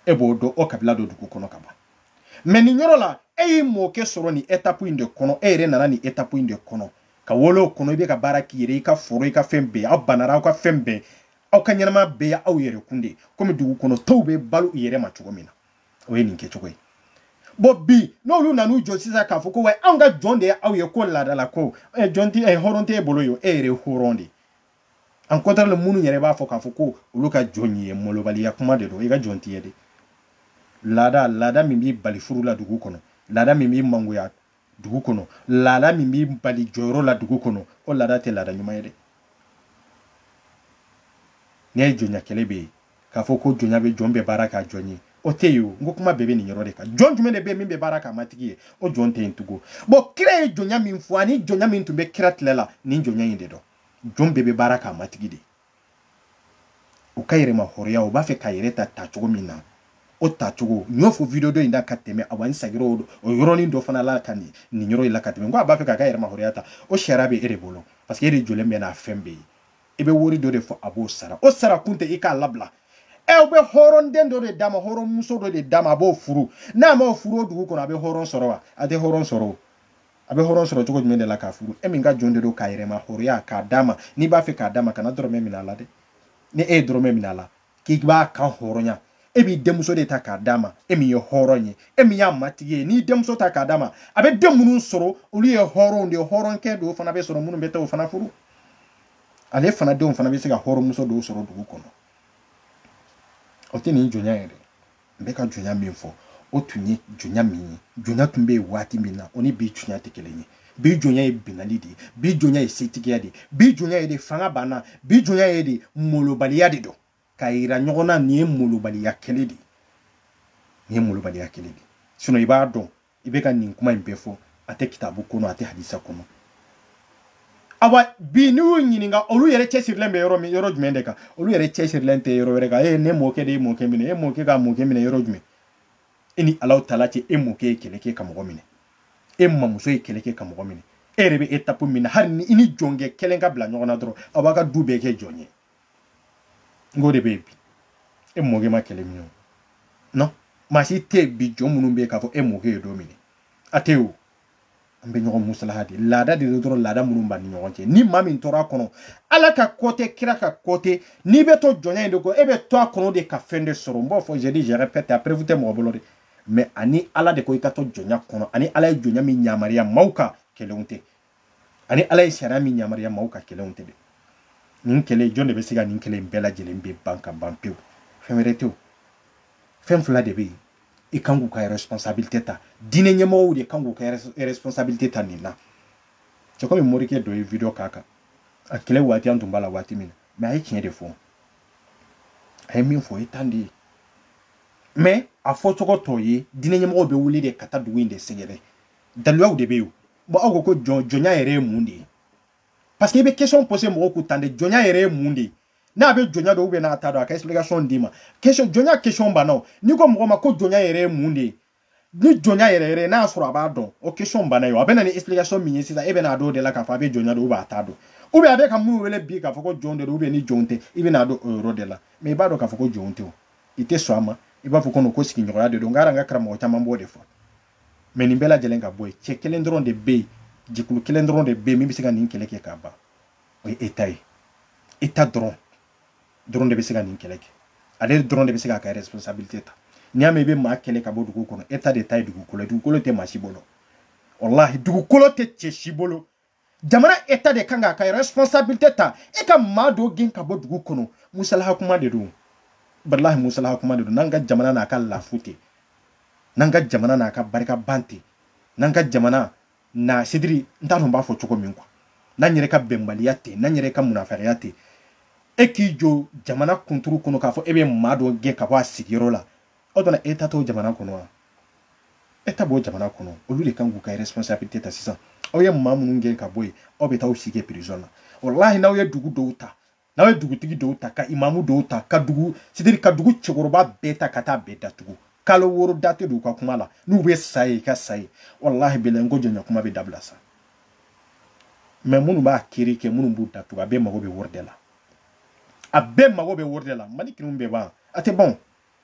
e b'o dɔn o kabila dɔ dugu kɔnɔ ka ban mɛ nin yɔrɔ la e y'i mɔkɛ sɔrɔ nin etapu in de kɔnɔ e yɛrɛ nana nin etapu in de kɔnɔ ka wolo o kɔnɔ i bɛ ka baara k'i yɛrɛ i ka foro i ka fɛn bɛɛ aw banara aw ka fɛn bɛɛ aw ka ɲɛnama bɛɛ ye aw yɛrɛ kun de komi dugu kɔnɔ tɔw bɛ balo u yɛrɛ ma cogo min na o ye nin kɛcogo ye bɔn bi n'olu nan'u jɔ sisan k'a fɔ ko wa anw ka jɔn de ye aw ye ko laada la ko jɔn tɛ hɔrɔn t'e bolo ye e yɛrɛ hɔrɔn de au contraire minnu yɛrɛ b'a fɔ k'a fɔ ko olu ka jɔn ye malobaliya kuma de don i ka jɔn tɛ yen dɛ laada laada min b'i bali furu la dugu kɔnɔ laada min b'i mangoya dugu kɔnɔ laada min b'i bali jɔyɔrɔ la dugu kɔnɔ o laada tɛ laada ɲuman ye dɛ n'i ye jɔnya kɛlɛ bɛ yen k'a fɔ ko jɔnya bɛ jɔn bɛ baara k'a jɔn ye o tɛ yen o n ko kuma bɛɛ bɛ nin yɔrɔ de kan jɔn jumɛn de bɛ yen min bɛ baara k'a matigi ye o jɔn tɛ yen tugun bɔn kira ye jɔnya min fɔ ani jɔnya min tun bɛ kira tile la nin jɔnya in de don jɔn bɛɛ bɛ baara k'a matigi de u ka yɛrɛma hɔrɔnya u b'a fɛ k'a yɛrɛ ta tacogo min na o tacogo n y'o fɔ video dɔ in da ka tɛmɛ a wa n sagir'o o yɔrɔnin dɔ fana la ka nin nin yɔrɔ in la ka tɛmɛ n ko a b'a fɛ k'a ka yɛrɛma hɔrɔnya ta o sariya bɛ e de bolo parce que e de jɔlen bɛ n'a fɛn bɛɛ ye i bɛ wari dɔ de fɔ a b'o sara o sara kun tɛ i k'a labila ɛ u bɛ hɔrɔnden dɔ de d'a ma hɔrɔnmuso dɔ de d'a ma a b'o furu n'a m'o furu o dugu kɔnɔ a bɛ hɔrɔn sɔrɔ wa a tɛ hɔrɔn sɔrɔ o a bɛ hɔrɔn sɔrɔ cogo jumɛn de la k'a furu e min ka jɔn de don k'a yɛrɛma hɔrɔnya k'a d'a ma n'i b'a fɛ k'a d'a ma kana dɔrɔmɛ minɛ a la dɛ ni e ye dɔrɔmɛ minɛ a la k'i b'a kanhɔrɔnya e b'i denmuso de ta k'a d'a ma e min ye hɔrɔn ye e min y'a matigi ye n'i denmuso ta k'a d'a ma a bɛ den minnu sɔrɔ olu ye hɔrɔnw de ye hɔrɔnkɛ dɔw fana bɛ sɔrɔ minnu bɛ taa o fana furu ale fana denw fana bɛ se ka hɔrɔnmuso dɔw sɔrɔ dugu kɔnɔ o tɛ nin jɔnya ye dɛ n bɛ ka jɔnya min fɔ o tun ye jɔnya min ye jɔnya tun bɛ yen waati min na o ni bi jɔnya tɛ kelen ye bi jɔnya ye binnali de ye bi jɔnya ye setigiya de ye bi jɔnya ye de fanga banna bi jɔnya ye de molobaliya de don k'a yira ɲɔgɔn na nin ye molobaliya kelen de ye nin ye molobaliya kelen de ye sinɔn i b'a dɔn i bɛ ka nin kuma in bɛɛ fɔ a tɛ kitabu kɔnɔ a tɛ hadisa kɔnɔ awa bi n'i y'u ɲininka olu yɛrɛ cɛsirilen bɛ yɔrɔ min yɔrɔ jumɛn de kan olu yɛrɛ cɛsirilen tɛ yɔrɔ wɛrɛ kan e ne mɔkɛ de y'e mɔkɛ minɛ e mɔkɛ ka mɔkɛ minɛ yɔrɔ jumɛn e ni ala taala cɛ e mɔkɛ ye kɛlɛ kɛ ka mɔgɔ minɛ e mamuso ye kɛlɛ kɛ ka mɔgɔ minɛ e yɛrɛ bɛ étape min na hali ni i ni jɔnkɛ kelen ka bila ɲɔgɔn na dɔrɔn a b'aw ka du bɛɛ kɛ jɔn ye n k'o de bɛ yen bi e mɔkɛ ma kelen minɛ non maa si tɛ yen bi jɔn minnu bɛ yen k'a fɔ e mɔkɛ ye dɔ minɛ a tɛ yen o an bɛ ɲɔgɔn musalaha de laada de don dɔrɔn laada minnu b'an ni ɲɔgɔn cɛ ni maa min tora a kɔnɔ ala ka ko tɛ kira ka ko tɛ n'i bɛ to jɔnya in de kɔ e bɛ to a kɔnɔ de ka fɛn de sɔrɔ n b'o fɔ je dis je répète a preuve tɛ mɔgɔ bolo de mais a ni ala de ko i ka to jɔnya kɔnɔ a ni ala ye jɔnya min yamaruya maaw kan kelen tɛ a ni ala ye sariya min yamaruya maaw kan kelen tɛ dɛ nin kɛlɛ jɔn de bɛ se ka nin kɛlɛ in bɛɛ lajɛlen bɛ ban ka ban pewu fɛn wɛrɛ tɛ o fɛn fila de bɛ yen i kan k'u ka responsabilité ta diinɛ ɲɛmɔgɔw de kan k'u ka responsabilité ta nin na c'est comme morikɛ dɔ ye video k'a kan a kɛlɛ waati an tun b'a la waati min na mais a ye tiɲɛ de fɔ a ye min fɔ o ye tan de ye mais a fɔcogo t'o ye diinɛ ɲɛmɔgɔw bɛ wuli de ka taa dugu in de sɛgɛrɛ daluyaw de bɛ yen bon aw ko ko jɔn jɔnya yɛrɛ ye mun de ye parce que i bɛ question poser mɔgɔw kun tan de jɔnya yɛrɛ ye mun de ye n'a bɛ jɔnya dɔn ou bien n'a t'a dɔn a ka explication d'i ma question jɔnya question banna o n'i ko mɔgɔ ma ko jɔnya yɛrɛ ye mun de ye ni jɔnya yɛrɛ yɛrɛ n'a y'a sɔrɔ a b'a dɔn o question banna ye o a bɛ na ni explication min ye sisan e bɛ n'a dɔn o de la k'a fɔ a bɛ jɔnya dɔn ou bien a t'a dɔn ou bien a bɛ ka minnu wele bi k'a fɔ ko jɔn de don ou bien ni jɔn tɛ i bɛ n'a dɔn o yɔrɔ de la mais i b'a dɔn k'a fɔ ko jɔn tɛ o i tɛ sɔn a ma i b'a fɔ ko ko sigiɲɔgɔnya de don n ka n ka karamɔgɔ caman b'o de fɔ mais nin bɛɛ lajɛlen ka bɔ yen cɛ kelen dɔrɔn de bɛ yen jɛkulu kelen dɔrɔn de bɛ yen min bɛ se ka nin kɛlɛ kɛ k'a ban o ye état ye état dɔrɔn dɔrɔn de bɛ se ka nin kɛlɛ kɛ ale dɔrɔn de bɛ se k'a ka responsabilité ta n'i y'a mɛn i bɛ maa kɛlɛ ka bɔ dugu kɔnɔ état de ta ye dugukolo ye dugukolo tɛ maa si bolo walahi dugukolo tɛ cɛ si bolo jamana état de kan k'a ka responsabilité ta e ka maa dɔ gɛn ka bɔ dugu kɔnɔ musalaha kuma de don walahi musalaha kuma de don n'an ka jamana n'a ka lafu tɛ n'an ka jamana n'a ka barika ban tɛ n'an ka jamana na c'est-à-dire n t'a dɔn n b'a fɔ cogo min quoi n'an yɛrɛ ka bɛnbaliya tɛ n'an yɛrɛ ka munafikiya tɛ e k'i jɔ jamana kunturu kɔnɔ k'a fɔ e bɛ maa dɔ gɛn ka bɔ a sigiyɔrɔ la o don na état t'o jamana kɔnɔ wa état b'o jamana kɔnɔ olu de kan k'u ka responsabilité ta sisan aw ye maa minnu gɛn ka bɔ yen aw bɛ taa aw si kɛ prison na walahi n'aw ye dugu dɔw ta n'aw ye dugutigi dɔw ta ka imamu dɔw ta ka dugu c'est-à-dire ka dugu cɛkɔrɔba bɛɛ ta ka taa bɛɛ datugu kalo wɔɔrɔ date don ka kuma la n'u bɛ sa yen u ka sa yen walahi bilahi n ko jɔnya kuma bɛ dabila sa mais minnu b'a kiri kɛ minnu b'u datugu a bɛɛ mago bɛ wari de la a bɛɛ mago bɛ wari de la mali kiriw bɛɛ ban a tɛ ban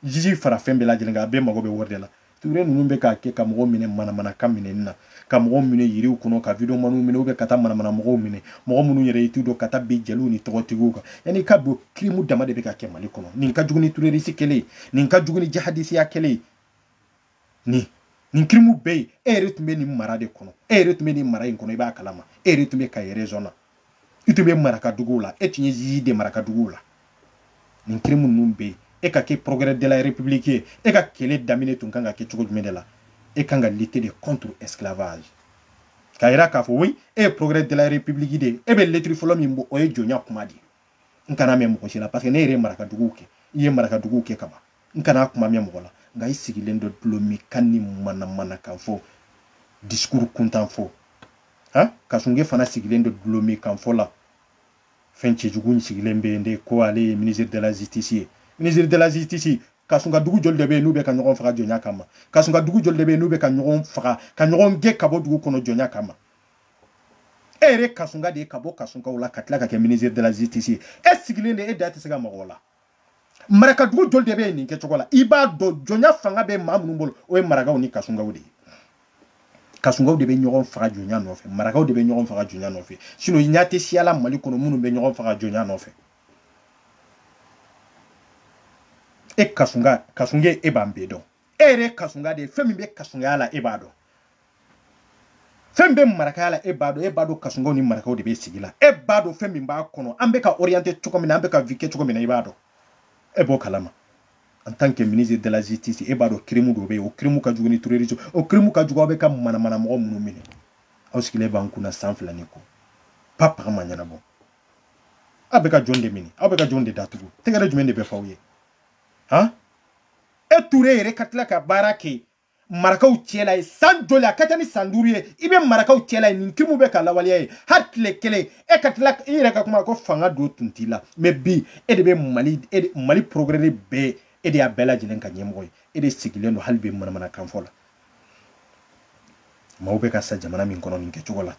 jiji fara fɛn bɛɛ lajɛlen kan a bɛɛ mago bɛ wari de la ture ninnu bɛ k'a kɛ ka mɔgɔw minɛ manamana ka minɛni na ka mɔgɔw minɛ yiriw kɔnɔ ka videomaniw minɛ u bɛ ka taa manamana mɔgɔw minɛ mɔgɔ minnu yɛrɛ i t'u dɔn ka taa bin jeliw ni tɔgɔtigiw kan yanni ka don kirimu dama de bɛ ka kɛ mali kɔnɔ nin ka jugu ni terorisi kɛlɛ ye nin ka jugu ni jihadisiya kɛlɛ ye nin nin kirimu bɛ yen e yɛrɛ tun bɛ nin mara de kɔnɔ e yɛrɛ tun bɛ nin mara in kɔnɔ i b'a kalama e yɛrɛ tun bɛ kayi rezɔn na i tun bɛ marakaduguw la e tun ye juge de marakaduguw la nin kirimu ninnu bɛ yen e ka kɛ procureur de la république ye e ka kɛlɛ daminɛ tun kan ka kɛ cogo jumɛn de la e kan ka lutter de contre esclavage k'a yira k'a fɔ oui e ye procureur de la république de ye e bɛ lettre fɔlɔ min bɔ o ye jɔnya kuma de ye n kana mɛn mɔgɔ si la paseke ne yɛrɛ ye marakaduguw kɛ n ye marakaduguw kɛ kaban n kana kuma mɛn mɔgɔ la nka i sigilen don dulɔminkan ni manamanakan fɔ disikuru kuntan fɔ han kasunge fana sigilen don dulɔminkan fɔ la fɛn cɛjugu in sigilen bɛ yen de ko ale ye ministre de la justice ye ministre de la justice kasunka dugu joli de bɛ yen n'u bɛ ka ɲɔgɔn faga jɔnya kama kasunka dugu joli de bɛ yen n'u bɛ ka ɲɔgɔn faga ka ɲɔgɔn gɛn ka bɔ dugu kɔnɔ jɔnya kama e yɛrɛ kasunka de ye ka bɔ kasunkaw la ka tila ka kɛ ministre de la justice ye e sigilen de e da tɛ se ka mɔgɔw la marakadugu joli de bɛ nin kɛcogo la i b'a dɔn jɔnya fanga bɛ maa minnu bolo o ye marakaw ni kasunkaw de ye kasunkaw de bɛ ɲɔgɔn faga jɔnya nɔfɛ marakaw de bɛ ɲɔgɔn faga jɔnya nɔfɛ sinon ɲa tɛ siya la mali kɔnɔ minnu bɛ ɲɔgɔn faga jɔnya nɔfɛ e kasunka kasunge e b'an bɛɛ dɔn e yɛrɛ kasunka de ye fɛn min bɛ kasunkaya la e b'a dɔn fɛn bɛ marakaya la e b'a dɔn e b'a dɔn kasunkaw ni marakaw de bɛ sigi la e b'a dɔn fɛn min b'a kɔnɔ an bɛ ka orienté cogo min na an bɛ ka vie kɛ cogo min na i b'a dɔn e b'o kalama en tant que ministre de la justice e b'a dɔn crime dɔ bɛ yen o crime ka jugu ni terrorisme o crime ka jugu aw bɛ ka manamana mɔgɔ minnu minɛ aw sigilen b'an kun na san fila ni kɔ pa paga ma ɲɛnabɔ aw bɛ ka jɔn de minɛ aw bɛ ka jɔn de datugu tɛgɛrɛ jumɛn de bɛ fɔ aw ye han e ture yɛrɛ ka tila ka baara kɛ marakaw cɛla yen san joli a ka ca ni san duuru ye i bɛ marakaw cɛla yen nin kirimu bɛ ka lawaleya yen hali tile kelen e ka tila i yɛrɛ ka kuma ko fanga dɔ tun t'i la mɛ bi e de bɛ mali e mali procureur bɛɛ e de y'a bɛɛ lajɛlen ka ɲɛmɔgɔ ye e de sigilen don hali bi manamanakan fɔ la maaw bɛ ka sa jamana min kɔnɔ nin kɛcogo la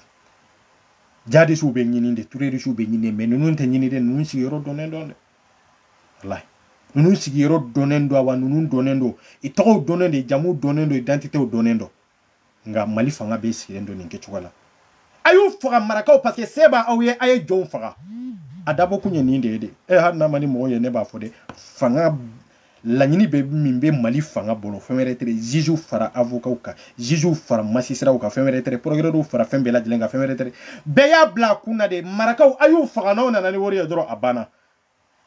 jihadisiw bɛ ɲini de terorisiw bɛ ɲini mɛ ninnu tɛ ɲini de ninnu sigiyɔrɔ dɔnnen don dɛ walayi ninnu sigiyɔrɔ dɔnnen don wa ninnu dɔnnen don i tɔgɔw dɔnnen don jamuw dɔnnen don idantitew dɔnnen don nka mali fanga bɛɛ sigilen don nin kɛcogo la a y'u faga marakaw parce que se b'aw ye a ye jɔnw faga a dabɔ kun ye nin de ye dɛ hali n'a man di mɔgɔ ye ne b'a fɔ dɛ fanga laɲini bɛ min bɛ mali fanga bolo fɛn wɛrɛ tɛ juges fara avocats kan juges fara magistrats kan fɛn wɛrɛ tɛ procureurs fara fɛn bɛɛ lajɛlen kan fɛn wɛrɛ tɛ bɛɛ y'a bila a kun na de marakaw a y'u faga n'aw nana ni wari ye dɔrɔn a banna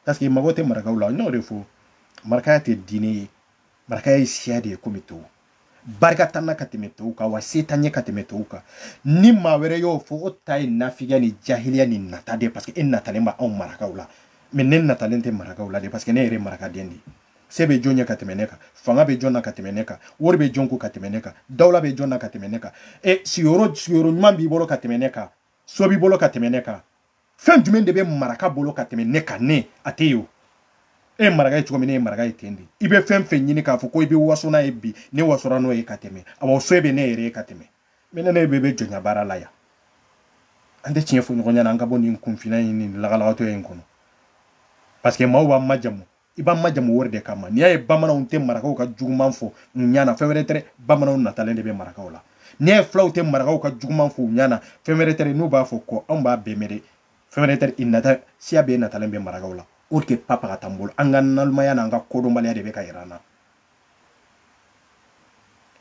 parce que mago tɛ marakaw la n y'o de fɔ marakaya tɛ diinɛ ye marakaya ye siya de ye komi tɔw barika t'an na ka tɛmɛ tɔw kan wa se t'an ye ka tɛmɛ tɔw kan ni maa wɛrɛ y'o fɔ o ta ye nafigiya ni jahiliya ni nata de parce que e natalen bɛ anw marakaw la mais ne natalen tɛ marakaw la de parce que ne yɛrɛ marakaden de se bɛ jɔn ye ka tɛmɛ ne kan fanga bɛ jɔn na ka tɛmɛ ne kan wari bɛ jɔn ko ka tɛmɛ ne kan dawula bɛ jɔn na ka tɛmɛ ne kan e sigiyɔrɔ sigiyɔrɔ ɲuman b'i bolo ka tɛmɛ ne kan so b'i bolo ka tɛmɛ ne kan fɛn jumɛn de bɛ maraka bolo ka tɛmɛ ne kan ne a tɛ yen o e ye maraka ye cogo min ne ye maraka ye ten de i bɛ fɛn fɛn ɲini k'a fɔ ko i bɛ waso n'a ye bi ne wasora n'o ye ka tɛmɛ waso bɛ ne yɛrɛ ye ka tɛmɛ mais ne ne bɛ bɛ jɔnya baara la yan an tɛ tiɲɛ fɔ ɲɔgɔn ɲɛna an ka bɔ nin kunfinna in ni lagalagatɔya in kɔnɔ parce que maaw b'an majamu i b'an majamu wari de kama n'i y'a ye bamananw tɛ marakaw ka juguman fɔ u ɲɛna fɛn wɛrɛ tɛ bamananw natalen de bɛ marakaw la n'i y'a ye fulaw tɛ marakaw ka juguman fɔ u ɲɛna fɛn wɛrɛ tɛ n'u b'a fɔ kɔ anw b'a bɛɛ mɛn dɛ fɛn wɛrɛ tɛ i nata siya bɛɛ natalen bɛ marakaw la o tɛ papa ka tan bolo an ka nalimaya n'an ka kodɔnbaliya de bɛ ka yira an na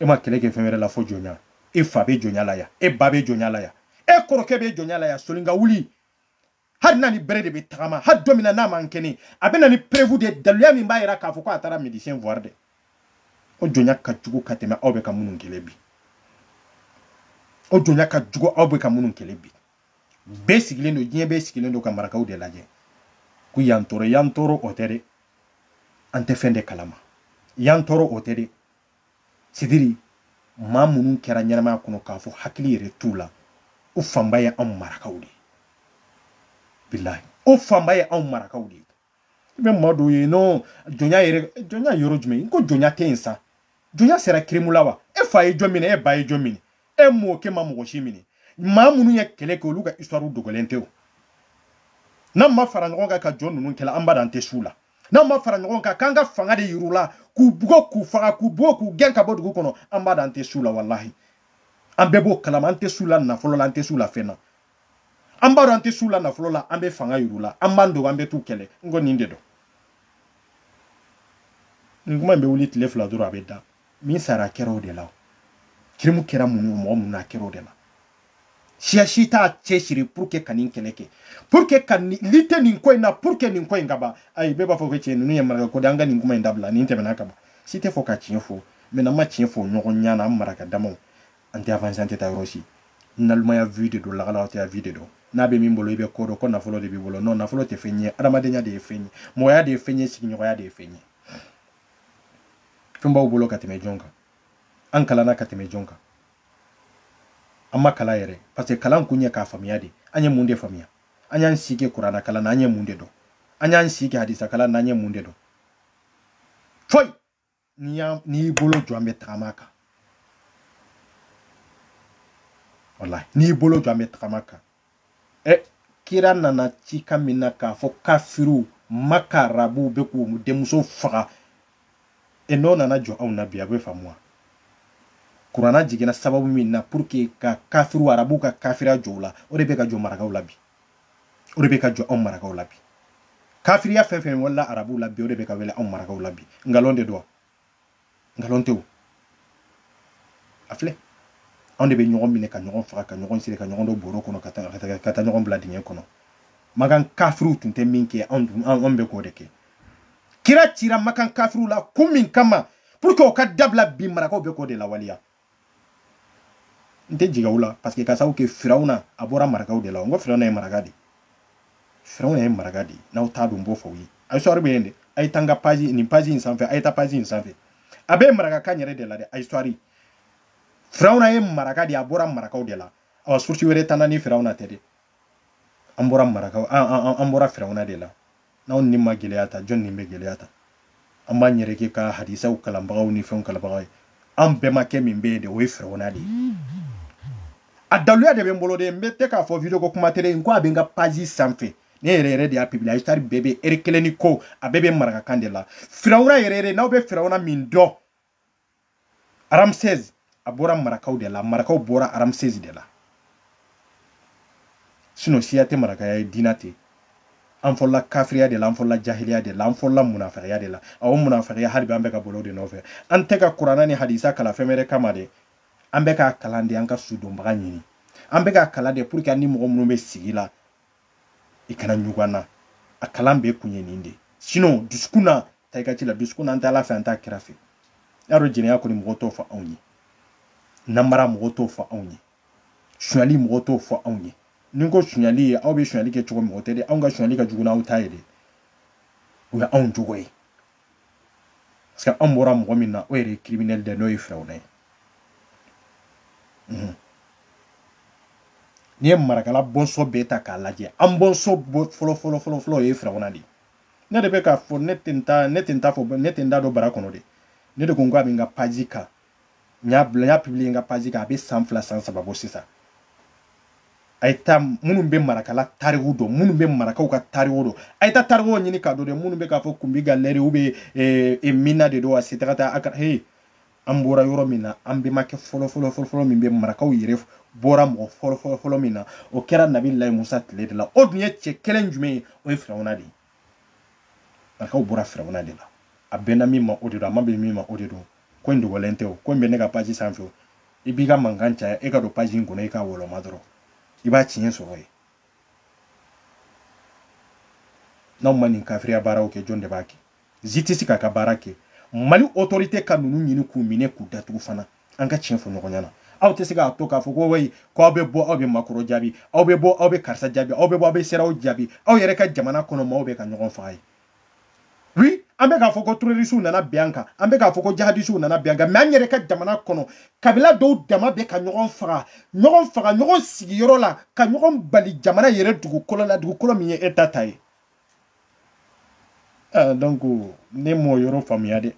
e ma kɛlɛ kɛ fɛn wɛrɛ la fo jɔnya e fa bɛ jɔnya la yan e ba bɛ jɔnya la yan e kɔrɔkɛ bɛ jɔnya la yan soli ka wuli hali n'a ni bere de bɛ tagama hali don min na n'a man kɛnɛ a bɛ na ni preuve de ye daluya min b'a jira k'a fɔ ko a taara médecin voir dɛ o jɔnya ka jugu ka tɛmɛ aw bɛ ka minnu kɛlɛ bi o jɔnya ka jugu aw bɛ ka minnu kɛlɛ bi bɛɛ sigilen don diɲɛ bɛɛ sigilen don ka marakaw de lajɛ ko yan tɔɔrɔ yan tɔɔrɔ o tɛ dɛ an tɛ fɛn de kalama yan tɔɔrɔ o tɛ dɛ c'est-à-dire maa minnu kɛra ɲɛnamaya kɔnɔ k'a fɔ hakili yɛrɛ t'u la o fanba ye anw marakaw de ye bilahi o fanba ye anw marakaw de ye i bɛ maa dɔw ye non jɔnya yɛrɛ jɔnya yɔrɔ jumɛn n ko jɔnya tɛ yen sa jɔnya sera crime la wa e fa ye jɔn minɛ e ba ye jɔn minɛ e mɔkɛ ma mɔgɔ si minɛ maa minnu ye kɛlɛ kɛ olu ka histoire dogolen tɛ o n'an ma fara ɲɔgɔn kan ka jɔn ninnu kɛlɛ abada an tɛ s'u la n'an ma fara ɲɔgɔn kan k'an ka fanga de yir'u la k'u bugɔ k'u faga k'u bugɔ k'u gɛn ka bɔ dugu kɔnɔ abada an tɛ s'u la walahi an bɛɛ b'o kalama an tɛ s'u la nafolo la an tɛ s'u la fɛn na an b'a dɔn an tɛ s'u la nafolo la an bɛ fanga yir'u la an b'an dogo an bɛ t'u kɛlɛ n ko nin de don nin kuma in bɛ wuli tile fila dɔrɔn a bɛ da min sara kɛra o de la kirimu kɛra mun ye mɔgɔ mun na kɛra o de la siya si t'a cɛsiri pour que ka nin kɛlɛ kɛ pour que ka lutter nin ko in na pour que nin ko in ka ban ayi bɛɛ b'a fɔ ko tiɲɛ ninnu ye maraka ko de an ka nin kuma in dabila nin tɛmɛna ka ban si tɛ fɔ ka tiɲɛ fɔ mais n'an ma tiɲɛ fɔ ɲɔgɔn ɲana an maraka damaw an tɛ avancer an tɛ taa yɔrɔ si nalomaya vide don lagalaw tɛ vide don n'a bɛ min bolo i bɛ ko dɔn ko nafolo de b'i bolo non nafolo tɛ fɛn ye adamadenya de ye fɛn ye mɔgɔya de ye fɛn ye sigiɲɔgɔnya de ye fɛn ye fɛn b'aw bolo ka tɛmɛ jɔn kan an kalanna ka tɛmɛ jɔn kan an ma kalan yɛrɛ parce que kalan kun ye k'a faamuya de an ye mun de faamuya an y'an si kɛ kurana kalan na an ye mun de dɔn an y'an si kɛ hadisa kalan na an ye mun de dɔn foyi n'i y'i bolo jɔ an bɛ tagama kan walahi n'i y'i bolo jɔ an bɛ tagama kan ɛ kira nana cikan min na k'a fɔ kafiriw maka arabuw bɛ k'u denmuso faga e n'o nana jɔ aw na bi a bɛ faamu wa kurana jiginna sababu min na pour que ka kafiriw arabuw ka kafiriya jɔ u la o de bɛ ka jɔ marakaw la bi o de bɛ ka jɔ anw marakaw la bi kafiriya fɛn fɛn wala arabuw la bi o de bɛ ka wele anw marakaw la bi nkalon de don wa nkalon tɛ o a filɛ anw de bɛ ɲɔgɔn minɛ ka ɲɔgɔn faga ka ɲɔgɔn siri ka ɲɔgɔn don bɔrɔ kɔnɔ ka taa ɲɔgɔn bila dingɛ kɔnɔ makan kafiriw tun tɛ min kɛ anw bɛ k'o de kɛ kira cira makan kafiriw la kun min kama pour que o ka dabila bi marakaw bɛ k'o de lawaleya n tɛ jigi aw la parce que ka sababu kɛ firawuna a bɔra marakaw de la n ko firawuna ye maraka de firawuna ye maraka de n'aw t'a dɔn n b'o fɔ aw ye a histoire bɛ yen de a ye taa n ka page nin page in sanfɛ a ye taa page in sanfɛ a bɛ marakakan yɛrɛ de la dɛ a histoire firawuna ye maraka de a bɔra marakaw de la awa source wɛrɛ t'an na ni firawuna tɛ de an bɔra marakaw an bɔra firawuna de la N'anw ni ma gɛlɛya ta, jɔni ni bɛ gɛlɛya ta? An b'an yɛrɛ kɛ ka hadisaw kalanbagaw ni fɛnw kalanbagaw ye. An bɛmakɛ min bɛ yen de, o ye Firawuna de ye. A daluya de bɛ n bolo de, n bɛ tɛ k'a fɔ video ko kuma tele n ko a bɛ n ka page sanfɛ. Ne yɛrɛ yɛrɛ de y'a publier, histoire bɛɛ bɛ heure kelen ni ko, a bɛɛ bɛ marakakan de la. Firawuna yɛrɛ yɛrɛ, n'aw bɛ Firawuna min dɔn, ramsès a bɔra marakaw de la marakaw bɔra ramsès de la sinon siya tɛ marakaya ye diina tɛ an fɔlɔla kafiriya de la an fɔlɔla jahiliya de la an fɔlɔla munafigiya de la a o munafigiya hali bi an bɛ ka boli o de nɔfɛ an tɛ ka kurana ni hadisa kalan fɛn wɛrɛ kama dɛ an bɛ k'a kalan de an ka sudonbaga ɲini an bɛ k'a kalan de pour que an ni mɔgɔ minnu bɛ sigi la i kana ɲugun an na a kalan bɛɛ kun ye nin de sinon dusukun na ta i ka ci la dusukun na an tɛ ala fɛ an t'a kira fɛ y'a dɔn jɛnɛya kɔni mɔgɔ t'o fɔ anw ye namara mɔgɔ t'o fɔ anw ye sonyali mɔgɔ t'o fɔ anw ye n'i ko sonyali ye aw bɛ sonyali kɛ cogo mɔgɔ tɛ de anw ka sonyali ka jugu n'aw ta ye de o ye anw jogo ye parce que an bɔra mɔgɔ min na o yɛrɛ ye criminel dɛ n'o ye firawuna ye mhm. n'i ye marakala bɔnsɔn bɛɛ ta k'a lajɛ an bɔnsɔn fɔlɔ fɔlɔ fɔlɔ fɔlɔ o ye firawuna de ye ne de bɛ k'a fɔ ne tɛ n ta ne tɛ n ta fɔ ne tɛ n da don bara kɔnɔ dɛ ne de ko n k'a bɛ n ka paji kan n y'a bila n y'a publier n ka page kan a bɛ san fila san saba bɔ sisan a ye taa minnu bɛ marakala tariku dɔn minnu bɛ marakaw ka tariku dɔn a ye taa tarikuw ɲini ka dɔn dɛ minnu bɛ k'a fɔ kunbi galɛri u bɛ eh, eh, minna de don a se taga taa a ka he an bɔra yɔrɔ min na an bɛmakɛ fɔlɔ fɔlɔ fɔlɔ fɔlɔ min bɛ marakaw yɛrɛ bɔra mɔgɔ fɔlɔ fɔlɔ fɔlɔ min na o kɛra nabilayi musa tile de la o dun ye cɛ kelen jumɛn ye o ye firawuna de ye marakaw bɔra firawuna de la a bɛnna min ma o de don a ma bɛn min ma o de don ko in dogolen tɛ o ko in bɛ ne ka paji sanfɛ o i b'i ka mankan caya e ka don paji in kɔnɔ i k'a wɔlɔma dɔrɔn i b'a tiɲɛ sɔrɔ yen n'aw ma nin kafiriya baaraw kɛ jɔn de b'a kɛ zisitisi k'a ka baara kɛ mali otorite ka ninnu ɲini k'u minɛ k'u datugu fana an ka tiɲɛ fɔ ɲɔgɔn ɲɛna aw tɛ se k'a to k'a fɔ ko wayi ko aw bɛ bɔ aw bɛ makɔrɔn jaabi aw bɛ bɔ aw bɛ karisa jaabi aw bɛ bɔ aw bɛ sedeyawo jaabi aw yɛrɛ ka jamana kɔnɔ maaw bɛ ka ɲɔgɔn faga ye wi an bɛ k'a fɔ ko terorisiw nana bin an kan an bɛ k'a fɔ ko jahadisiw nana bin an kan mɛ an yɛrɛ ka jamana kɔnɔ kabila dɔw dama bɛ ka ɲɔgɔn faga ɲɔgɔn faga ɲɔgɔn sigiyɔrɔ la ka ɲɔgɔn bali jamana yɛrɛ dugukolo la dugukolo min ye eta ta ye Ah, donc ne m'o yɔrɔ faamuya dɛ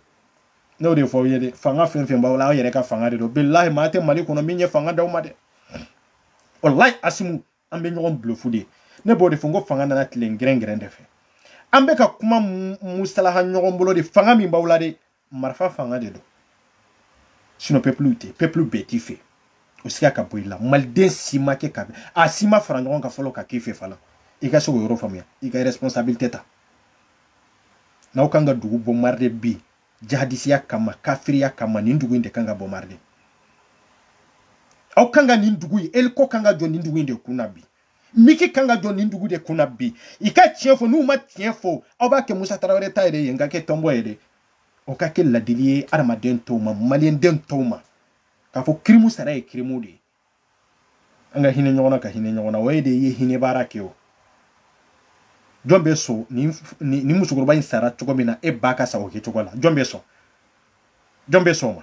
ne y'o de fɔ aw ye dɛ fanga fɛn fɛn b'aw la aw yɛrɛ ka fanga de don bilahi maa tɛ mali kɔnɔ min ye fanga d'aw ma dɛ walahi asimu an bɛ ɲɔgɔn bulofu de ne b'o de fɔ n ko fanga nana tile gɛrɛngɛrɛn de fɛ an bɛ ka kuma musalaha ɲɔgɔn bolo de fanga min b'aw la dɛ marifa fanga de don sinɔ pepulu tɛ pepulu bɛɛ t'i fɛ o siga ka bɔ i la maliden si ma kɛ ka a si ma fara ɲɔgɔn kan fɔlɔ ka k'i fɛ fana i ka se k'o yɔrɔ faamuya i ka responsabilité ta n'aw kan ka dugu bɔnbaride bi jahadisiya kama kafiriya kama nin dugu in de kan ka bɔnbaride aw kan ka nin dugu in eliko kan ka jɔ nin dugu in de kunna bi miki kan ka jɔ nin dugu de kunna bi i ka tiɲɛ fɔ n'u ma tiɲɛ fɔ aw b'a kɛ musa tarawele ta yɛrɛ ye n ka kɛ tɔnbɔ ye dɛ o ka kɛ ladili ye adamaden tɔw ma maliyɛnden tɔw ma k'a fɔ kirimu sara ye kirimu de ye an ka hinɛ ɲɔgɔn na ka hinɛ ɲɔgɔn na o ye de ye hinɛ baara kɛ o jɔn bɛ sɔn nin nin musokɔrɔba in sara cogo min na e ba ka sa o kɛ cogo la jɔn bɛ sɔn jɔn bɛ sɔn o ma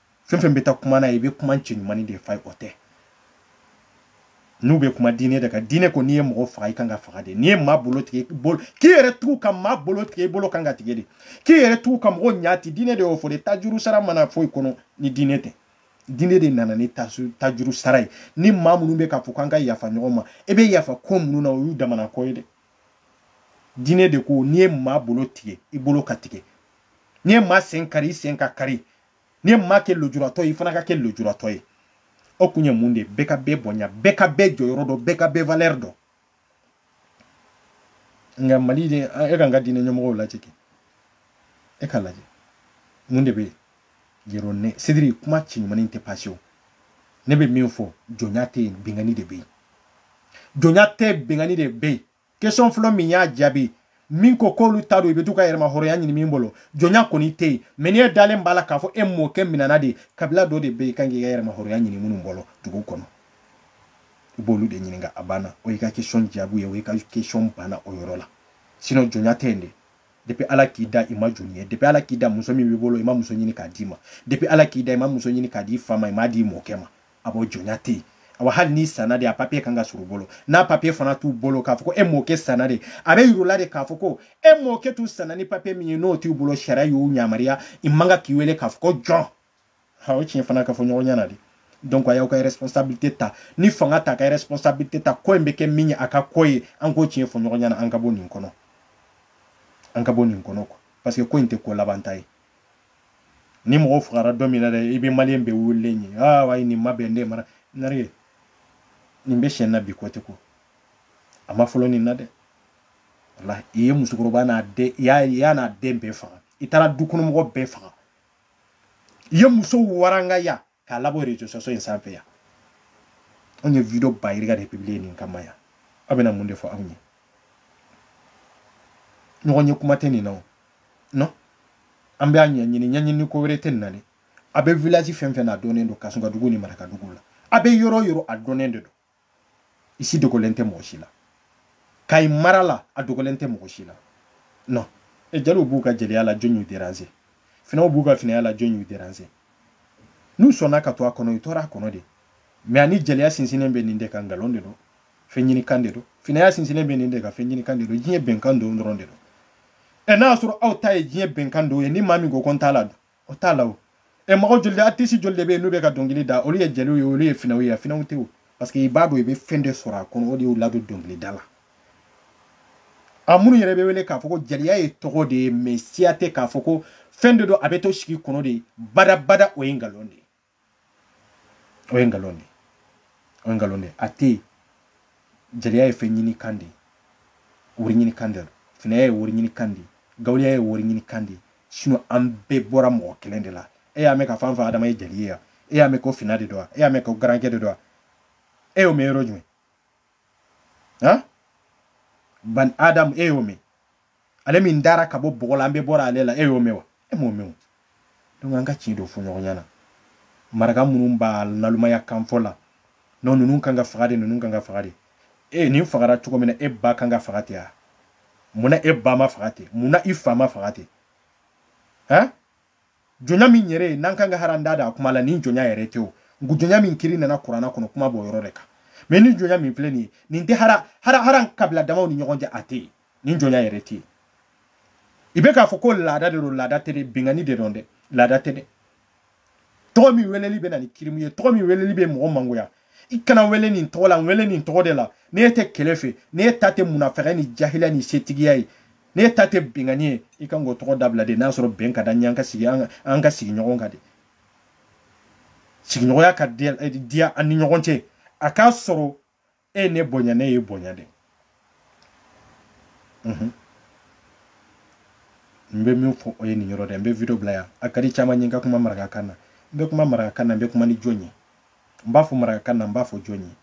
fɛn fɛn bɛ taa kuma n'a ye i bɛ kuma cɛɲumanin de f'a ye o tɛ n'u bɛ kuma diinɛ de kan diinɛ ko n'i ye mɔgɔ faga i kan ka faga de n'i ye maa bolo tigɛ bolo k'i yɛrɛ tugu ka maa bolo tigɛ i bolo kan ka tigɛ de k'i yɛrɛ tugu ka mɔgɔ ɲa ti diinɛ de y'o fɔ de tajuru sara ma na foyi kɔnɔ ni diinɛ tɛ diinɛ de nana ni tajuru sara ye ni maa minnu bɛ k'a fɔ k'an ka yafa ɲɔgɔn ma e bɛ yafa ko minnu na o y'u damana ko ye dɛ diinɛ de ko n'i ye maa bolo tigɛ i bolo ka tigɛ n'i ye maa sen kari i sen ka kari n'i ye maa kɛ lujuratɔ ye i fana ka kɛ lujuratɔ ye o kun ye mun de ye bɛɛ ka bɛɛ bonya bɛɛ ka bɛɛ jɔyɔrɔ dɔn bɛɛ ka bɛɛ valeur dɔn nka mali de e k'an ka diinɛ ɲɛmɔgɔw lajɛ kɛ e ka lajɛ mun de bɛ yen yɛrɛ ne sidiri kuma cɛɲumanin tɛ passer o ne bɛ min fɔ jɔnya tɛ yen binkanni de bɛ yen jɔnya tɛ binkanni de bɛ yen question fɔlɔ min y'a jaabi min ko k'olu ta don i bɛ to ka yɛrɛma hɔrɔnya ɲini min bolo jɔnya kɔni tɛ yen mais n'e dalen b'a la k'a fɔ e mɔkɛ minɛna de kabila dɔ de bɛ yen kan k'i ka yɛrɛma hɔrɔnya ɲini minnu bolo dugu kɔnɔ i b'olu de ɲininka a banna o y'i ka question jaabi ye o y'i ka question banna o yɔrɔ la sinon jɔnya tɛ yen de depuis ala k'i da i ma jɔn ye depuis ala k'i da muso min b'i bolo i ma muso ɲini k'a d'i ma depuis ala k'i da i ma muso ɲini k'a d'i fa ma i m'a d'i mɔkɛ ma a b'o jɔnya tɛ yen awa hali n'i sanna de a papier kan ka sɔr'u bolo n'a papier fana t'u bolo k'a fɔ ko e mɔkɛ sanna de a bɛ yir'u la de k'a fɔ ko e mɔkɛ tun sanna ni papier min ye n'o t'u bolo sariya y'u yamaruya i man kan k'i wele k'a fɔ ko jɔn ha o tiɲɛ fana ka fɔ ɲɔgɔn ɲɛ na de donc a y'aw ka responsabilité ta ni fanga t'a ka responsabilité ta ko in bɛ kɛ min ye a k'a k'o ye an k'o tiɲɛ fɔ ɲɔgɔn ɲɛ na an ka bɔ nin kɔnɔ an ka bɔ nin kɔnɔ quoi parce que ko in tɛ ko labanta ye ni mɔgɔ fagara don min na dɛ i bɛ maliyɛn bɛɛ wulilen ye aa ayi nin ma bɛn ne mara nari nin bɛ sen na bi ko tɛ ko a ma fɔlɔ nin na dɛ walayi i ye musokɔrɔba n'a den i y'a n'a den bɛɛ faga i taara dukɔnɔmɔgɔ bɛɛ faga i ye muso warangaya k'a labɔ réseaux sociaux in sanfɛ yan anw ye video ba yirika de publier nin kama yan aw bɛna mun de fɔ anw ye ɲɔgɔn ye kuma tɛ nin na o non an bɛ a ɲɛɲini ɲɛɲini ko wɛrɛ tɛ nin na dɛ a bɛ village fɛn fɛn na a dɔnnen don kasɔnkadugu ni marakadugu la a bɛ yɔrɔ yɔrɔ a dɔnnen de don i si dogolen tɛ mɔgɔ si la kayi mara la a dogolen tɛ mɔgɔ si la non e jaliw b'u ka jeliya la jɔn y'u déranger finaw b'u ka finaya la jɔn y'u déranger n'u sɔnna ka to a kɔnɔ u tora a kɔnɔ de mais ani jeliya sinsinnen bɛ nin de kan nkalon de don fɛn ɲini kan de don finaya sinsinnen bɛ nin de kan fɛn ɲini kan de don diɲɛ bɛnkan don dɔrɔn de don ɛ n'a y'a sɔrɔ aw ta ye diɲɛ bɛnkan don ye ni maa min ko ko n t'a la dun o t'a la o e mɔgɔ joli de artiste joli de bɛ yen n'u bɛ ka dɔnkili da olu ye jeliw ye olu ye finaw ye wa finaw tɛ o parce que i b'a dɔn i bɛ fɛn de sɔrɔ a kɔnɔ o de y'u ladon dɔnkilida la a minnu yɛrɛ bɛ wele k'a fɔ ko jeliya ye tɔgɔ de ye mɛ siya tɛ k'a fɔ ko fɛn de don a bɛ to sigi kɔnɔ de badabada o ye nkalon de ye o ye nkalon de o ye nkalon de a tɛ yen jeliya ye fɛn ɲini kan de ye wari ɲini kan de finaya ye wari ɲini kan de gawuliya ye wari ɲini kan de sinɔn an bɛɛ bɔra mɔgɔ kelen de la e y'a mɛn k'a fɔ an fa adama ye jeli ye wa e y'a mɛn ko fina de don wa e y'a mɛn ko garankɛ de don wa e y'o mɛn yɔrɔ jumɛn han bani adamu e y'o mɛn ale min dara ka bɔ bɔgɔ la an bɛɛ bɔra ale la e y'o mɛn wa e m'o mɛn o donc an ka tiɲɛ dɔ fɔ ɲɔgɔn ɲɛna maraka minnu b'a nalomaya kan fɔ la nɔ ninnu kan ka faga de ninnu kan ka faga de e nin fagara cogo min na e ba kan ka faga ten a munna e ba ma faga ten munna i fa ma faga ten han jɔnya min yɛrɛ ye n'an kan ka hali an da don a kuma la nin jɔnya yɛrɛ tɛ o jɔnya min kiri nana kurana kɔnɔ kuma b'o yɔrɔ de kan mɛ ni jɔnya min filɛ nin ye nin tɛ hali hali hali kabila damaw ni ɲɔgɔn cɛ a tɛ yen nin jɔnya yɛrɛ tɛ yen i bɛ k'a fɔ ko laada de don laada tɛ dɛ binkanni de don dɛ laada tɛ dɛ tɔgɔ min weleli bɛ na ni kirimu ye tɔgɔ min weleli bɛ mɔgɔ mangoya i kana wele nin tɔgɔ la n wele nin tɔgɔ de la ne tɛ kɛlɛ fɛ ne ta tɛ munafigi ni jahiliya ni setigiya ye ne ta tɛ binkanni ye i kan k'o tɔgɔ dabila de n'a sɔrɔ bɛn ka da ɲɛ an ka sigi an ka sigi ɲɔgɔn kan de sigiɲɔgɔnya ka diya an ni ɲɔgɔn cɛ a k'a sɔrɔ e ye ne bonya ne y'e bonya de mhm. n bɛ min fɔ o ye nin yɔrɔ de n bɛ video bila yan a ka di caman ye n ka kuma marakakan na n bɛ kuma marakakan na n bɛ kuma ni jɔn ye n b'a fɔ marakakan na n b'a fɔ jɔn ye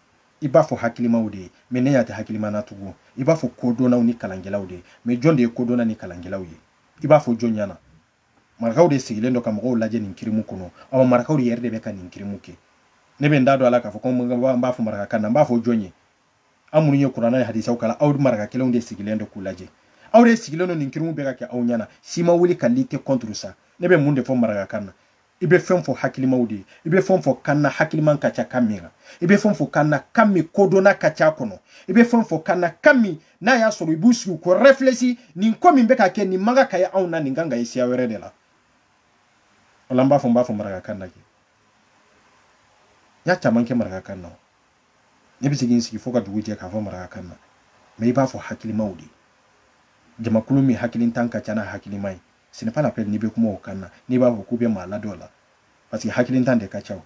i b'a fɔ hakilimaw de ye mɛ ne ɲɛ tɛ hakilima na tugun i b'a fɔ kodɔnnaw ni kalankɛlaw de ye mɛ jɔn de ye kodɔnna ni kalankɛlaw ye i b'a fɔ jɔn ɲɛna marakaw de sigilen don ka mɔgɔw lajɛ nin kirimu kɔnɔ awa marakaw de yɛrɛ de bɛ ka nin kirimu kɛ ne bɛ n da don a la k'a fɔ ko n b'a fɔ maraka kan na n b'a fɔ jɔn ye aw minnu ye kurana ni hadisaw kalan aw maraka kelenw de sigilen don k'u lajɛ aw de sigilen don nin kirimu bɛ ka kɛ aw ɲɛna si ma wuli ka lutter contre ça ne bɛ mun de fɔ maraka kan na i bɛ fɛn fɔ hakilimaw de ye i bɛ fɛn fɔ kan na hakilima ka ca kan min na i bɛ fɛn fɔ kan na kan min kodɔnna ka ca kɔnɔ i bɛ fɛn fɔ kan na kan min n'a y'a sɔrɔ i b'u sigi ko refilɛsi nin ko min bɛ ka kɛ nin man kan ka ye anw na nin kan ka ye siya wɛrɛ de la o la n b'a fɔ n b'a fɔ marakakan na kɛ n y'a caman kɛ marakakan na ne bɛ se ka n sigi fo ka dugu jɛ k'a fɔ marakakan na mɛ i b'a fɔ hakilimaw de ye jamakulu min hakilintan ka ca n'a hakilima ye Ce n'est pas la peine n'i bɛ kuma o kan na n'i b'a fɔ k'u bɛ maa ladɔ la parce que hakilintan de ka ca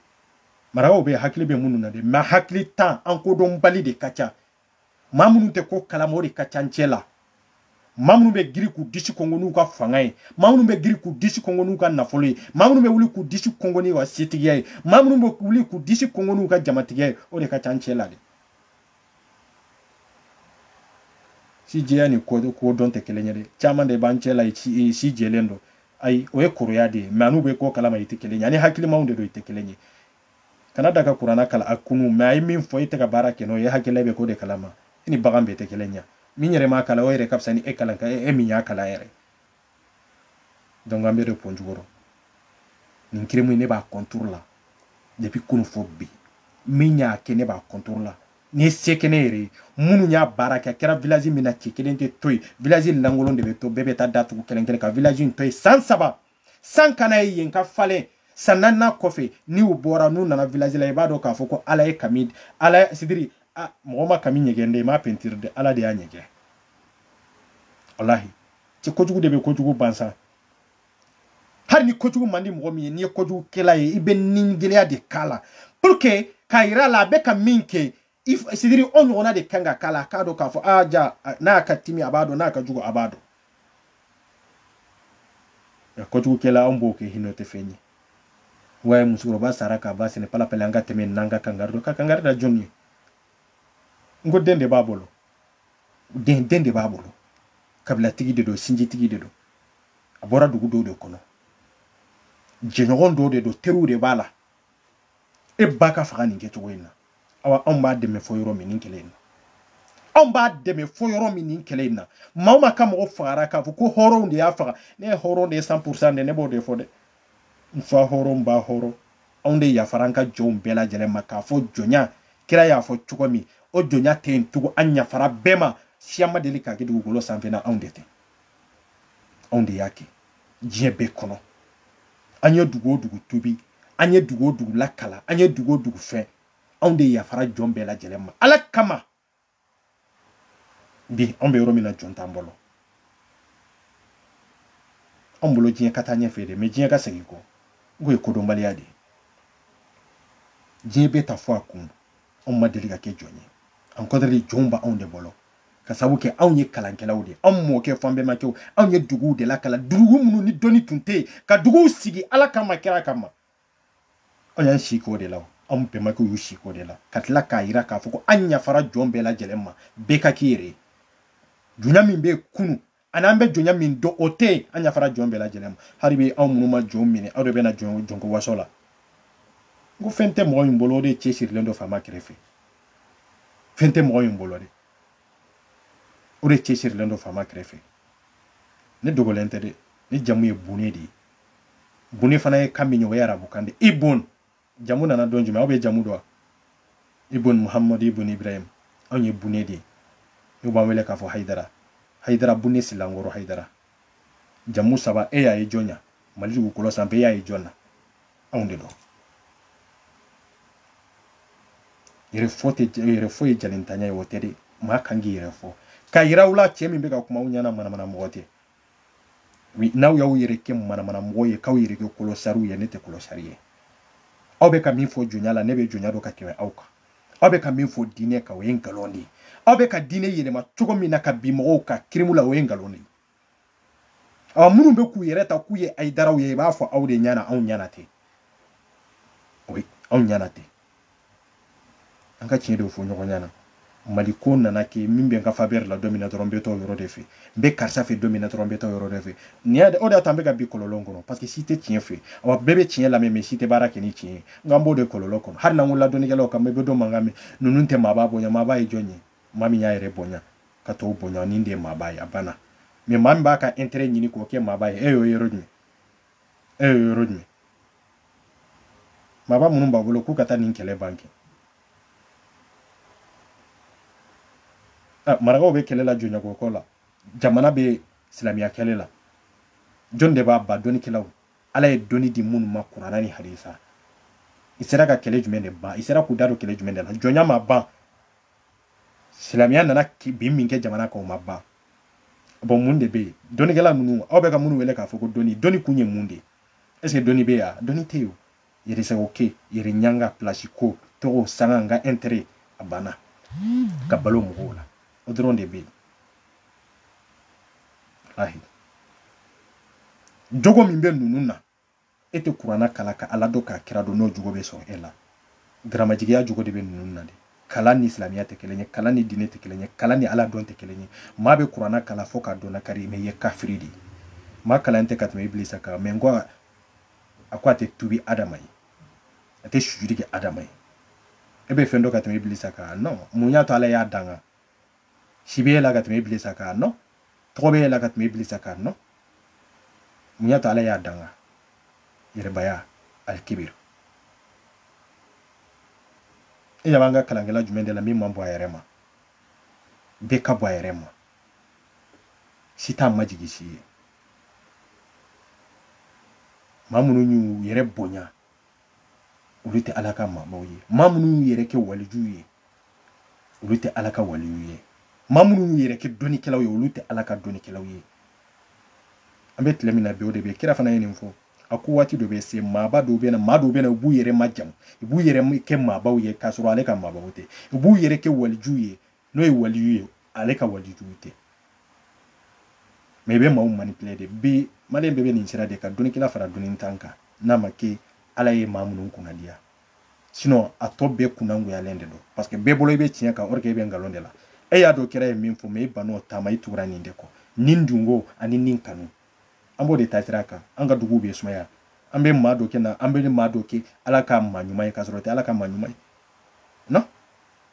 maa dɔw bɛ hakili bɛ minnu na dɛ mais hakilintan ani kodɔnbali de ka ca maa minnu tɛ ko kalama o de ka ca an cɛ la maa minnu bɛ girin k'u disi kɔnkɔn n'u ka fanga ye maa minnu bɛ girin k'u disi kɔnkɔn n'u ka nafolo ye maa minnu bɛ wuli k'u disi kɔnkɔn n'u ka setigiya ye maa minnu bɛ wuli k'u disi kɔnkɔn n'u ka jamatigiya ye o de ka ca an cɛ la dɛ si jɛya ni kodɔn tɛ kelen ye dɛ caman de b'an cɛ la si jɛlen don ayi o ye kɔrɔya de ye mais an'u bɛ ko kalama i tɛ kelen ye ani hakilimaw de don i tɛ kelen ye kana da ka kurana kalan k'a kunu mais a ye min fɔ e tɛ ka baara kɛ n'o ye hakilila bɛ ko de kalama i ni bagan bɛɛ tɛ kelen ye min yɛrɛ m'a kalan o yɛrɛ ka fisa ni e kalan ka e min y'a kalan yɛrɛ donc an bɛ de pɔn jukɔrɔ nin crime ne b'a contre la depuis kunu fo bi min y'a kɛ ne b'a contre la ni se kɛ ne yɛrɛ ye minnu y'a baara kɛ a kɛra village min na cɛ kelen tɛ to yen village lankolon de bɛ to bɛɛ bɛ taa datugu kelen kelen ka village in to yen san saba san kana ye yen ka falen san naaninan kɔfɛ ni u bɔra n'u nana village la i b'a dɔn k'a fɔ ko ala ye kami ala c'est-à-dire mɔgɔ ma kami ɲɛgɛn dɛ i m'a pentiri dɛ ala de y'a ɲɛgɛn walahi c'est kojugu de bɛ kojugu ban sa hali ni kojugu man di mɔgɔ min ye n'i ye kojugu kɛla ye i bɛ nigɛlɛya de k'a la pour que k'a yira a la a bɛ ka min kɛ c'est-à-dire o ɲɔgɔnna de kan ka k'a la a k'a dɔn k'a fɔ aa ja n'a ka timi a b'a dɔn n'a ka jugu a b'a dɔn nka kojugukɛla anw b'o kɛ hinɛ tɛ fɛn ye wa ye musokɔrɔba sara k'a ba sɛnɛ palapɛlɛ an ka tɛmɛ n'an ka kangari don ka kangari da jɔn ye n ko den de b'a bolo den den de b'a bolo kabilatigi de don sinjitigi de don a bɔra dugu dɔw de kɔnɔ jɛɲɔgɔn dɔw de don teriw de b'a la e b'a k'a faga nin kɛcogo in na awa anw b'a dɛmɛ fɔ yɔrɔ min nin kɛlɛ in na anw b'a dɛmɛ fɔ yɔrɔ min nin kɛlɛ in na maa o maa ka mɔgɔ fagara k'a fɔ ko hɔrɔnw de y'a faga ne ye hɔrɔn de ye cent pour cent de ne b'o de fɔ dɛ N fa hɔrɔn n ba hɔrɔn anw de yafara an ka jɔnw bɛɛ lajɛlen ma k'a fɔ jɔnya kira y'a fɔ cogo min o jɔnya tɛ yen tugun an yafara bɛɛ ma siya ma deli k'a kɛ dugukolo sanfɛ n'anw de tɛ anw de y'a kɛ diɲɛ bɛɛ kɔnɔ an ye dugu o dugu tuubi an ye dugu o dugu lakalan an ye dugu o dugu fɛn anw de yafara jɔn bɛɛ lajɛlen ma ala kama bi anw bɛ yɔrɔ min na jɔn t'an bolo anw bolo diɲɛ ka taa ɲɛfɛ dɛ mais diɲɛ ka segin kɔ k'o ye kodɔnbaliya de ye diɲɛ bɛɛ ta fɔ a kun anw ma deli ka kɛ jɔn ye au contraire jɔnw b'anw de bolo ka sabu kɛ anw ye kalankɛlaw de ye anw mɔkɛ fo an bɛmakɛw anw ye duguw de lakalan dugu minnu ni dɔnni tun tɛ yen ka duguw sigi ala kama kira kama anw y'an si k'o de la anw bɛnbakɛw y'u si k'o de la ka tila k'a yira k'a fɔ ko an yafara jɔn bɛɛ lajɛlen ma bɛɛ ka k'i yɛrɛ ye jɔnya min bɛ kunu ani an bɛ jɔnya min dɔn o tɛ yen an yafara jɔn bɛɛ lajɛlen ma hali bi anw minnu ma jɔn minɛ aw de bɛna jɔn jɔnko waso la n ko fɛn tɛ mɔgɔ min bolo o de cɛ sirilen don faama kɛrɛfɛ fɛn tɛ mɔgɔ min bolo de o de cɛ sirilen don faama kɛrɛfɛ ne dogolen tɛ dɛ ne jamu ye bune de ye bune fana ye kan min ye o ye arabukan de ibun jamu nana don jumɛn aw bɛ jamu dɔn ibun muhammad ibun ibrahim anw ye bune de ye n'u b'an wele k'a fɔ hayidara hayidara bune silankɔrɔ hayidara jamu saba e y'a ye jɔn na mali dugukolo sanfɛ e y'a ye jɔn na anw de don yɛrɛ fɔ tɛ yɛrɛ fɔ ye jalintanya ye o tɛ dɛ maa kan k'i yɛrɛ fɔ k'a yira u la cɛ min bɛ ka kuma aw ɲɛna manamana mɔgɔ tɛ oui n'aw y'aw yɛrɛ kɛ manamana mɔgɔw ye k'aw yɛrɛ kɛ kɔlɔsariw ye ne tɛ kɔlɔsari ye aw bɛ ka min fɔ jɔnya la ne bɛ jɔnya dɔn ka tɛmɛ aw kan aw bɛ ka min fɔ diinɛ kan o ye nkalon de ye aw bɛ ka diinɛ yɛlɛma cogo min na ka bin mɔgɔw kan kirimu la o ye nkalon de ye ɔ minnu bɛ k'u yɛrɛ ta k'u ye hayidaraw ye i b'a fɔ aw de ɲɛna anw ɲɛna tɛ oui anw ɲɛna tɛ an ka tiɲɛ de fɔ ɲɔgɔn ɲɛna mali ko nana kɛ min bɛ n ka faveur la don min na dɔrɔn n bɛ taa o yɔrɔ de fɛ n bɛ karisa fɛ don min na dɔrɔn n bɛ taa o yɔrɔ de fɛ nin y'a o de y'a to an bɛ ka bin kɔlɔlɔ kɔnɔ parce que si tɛ tiɲɛ fɛ awa bɛɛ bɛ tiɲɛ lamɛn mais si tɛ baara kɛ ni tiɲɛ ye n k'an b'o de kɔlɔlɔ kɔnɔ hali n'an ko la dɔnnikɛlaw kan bɛ dɔw mankan mɛn ninnu tɛ maaba bonya maaba ye jɔn ye maa min y'a yɛrɛ bonya ka tɔw bonya nin de ye maaba ye a banna mais maa min b'a ka intérêt ɲini k'o kɛ maaba ye e y'o yɔrɔ jumɛn e ye yɔrɔ jumɛn maaba minnu b'a bolo k'u ka taa nin kɛlɛ ban kɛ ah, marakaw bɛ kɛlɛ la jɔnyako ko la jamana bɛ silamɛya kɛlɛ la jɔni de b'a ban dɔnnikɛlaw ala ye dɔnni di minnu ma kurana ni hadisa i sera ka kɛlɛ jumɛn de ban i sera k'u da don kɛlɛ jumɛn de la jɔnya ma ban silamɛya nana bin min kɛ jamana kan o ma ban bon mun de bɛ yen dɔnnikɛla ninnu aw bɛ ka minnu wele k'a fɔ ko dɔnni dɔnni kun ye mun de ye est ce que dɔnni bɛ yen dɔnni tɛ yen yɛrɛsago kɛ yɛrɛ ɲanga pilasi ko tɔgɔ sanga n ka intérêt a banna ka balo mɔgɔw la o dɔrɔn de bɛ yen ahi jogo min bɛ ninnu na E tɛ kurana kalan ka Ala dɔn k'a kira dɔn n'o jogo bɛ sɔrɔ e la. Garamajigiya jogo de bɛ ninnu na dɛ. Kalan ni silamɛya tɛ kelen ye, kalan ni diinɛ tɛ kelen ye, kalan ni Ala dɔn tɛ kelen ye. Maa bɛ kurana kalan fo k'a dɔnna kari mais i ye kafiri de ye. Maa kalannen tɛ ka tɛmɛ Ibilisa kan mais n ko a ko a tɛ tuubi Adama ye, a tɛ sujudi kɛ Adama ye. E bɛ fɛn dɔn ka tɛmɛ Ibilisa kan? Non! Mun y'a to Ala y'a danka? si bɛ e la ka tɛmɛ ibilisa kan non tɔgɔ bɛ e la ka tɛmɛ ibilisa kan non mun y'a to ala y'a danga yɛrɛbaya alikibiri e ɲɛ b'an ka kalankɛla jumɛn de la min man bon a yɛrɛ ma bɛɛ ka bon a yɛrɛ ma si t'a majigi si ye maa minnu y'u yɛrɛ bonya olu tɛ ala ka maabaw ye maa minnu y'u yɛrɛ kɛ walijuw ye olu tɛ ala ka waliw ye maa minnu y'u yɛrɛ kɛ dɔnnikɛlaw ye olu tɛ ala ka dɔnnikɛlaw ye an bɛ tile min na bi o de bɛ kira fana ye nin fɔ a ko waati dɔ bɛ se maaba dɔw bɛ na maa dɔw bɛ na u b'u yɛrɛ majamu u b'u yɛrɛ kɛ maabaw ye k'a sɔrɔ ale ka maabaw tɛ u b'u yɛrɛ kɛ walijuw ye n'o ye waliyu ye ale ka walijuw tɛ mais i bɛ maaw manipuler de bi maliyɛn bɛɛ bɛ nin sira de kan dɔnnikɛla fara dɔnnintan kan n'a ma kɛ ala ye maa minnu kunnadiya sinon a tɔ bɛɛ kunnangoyalen de don parce que bɛɛ bolo i bɛ tiɲɛ kan or que i bɛ nkalon de la e y'a dɔn kira ye min fɔ mais i ban'o ta ma i tugura nin de kɔ nin dungo ani nin kanu an b'o de ta sira kan an ka duguw bɛ sumaya an bɛ maa dɔ kɛ na an bɛ maa dɔ kɛ ala ka maa ɲuman ye k'a sɔrɔ o tɛ ala ka maa ɲuman ye non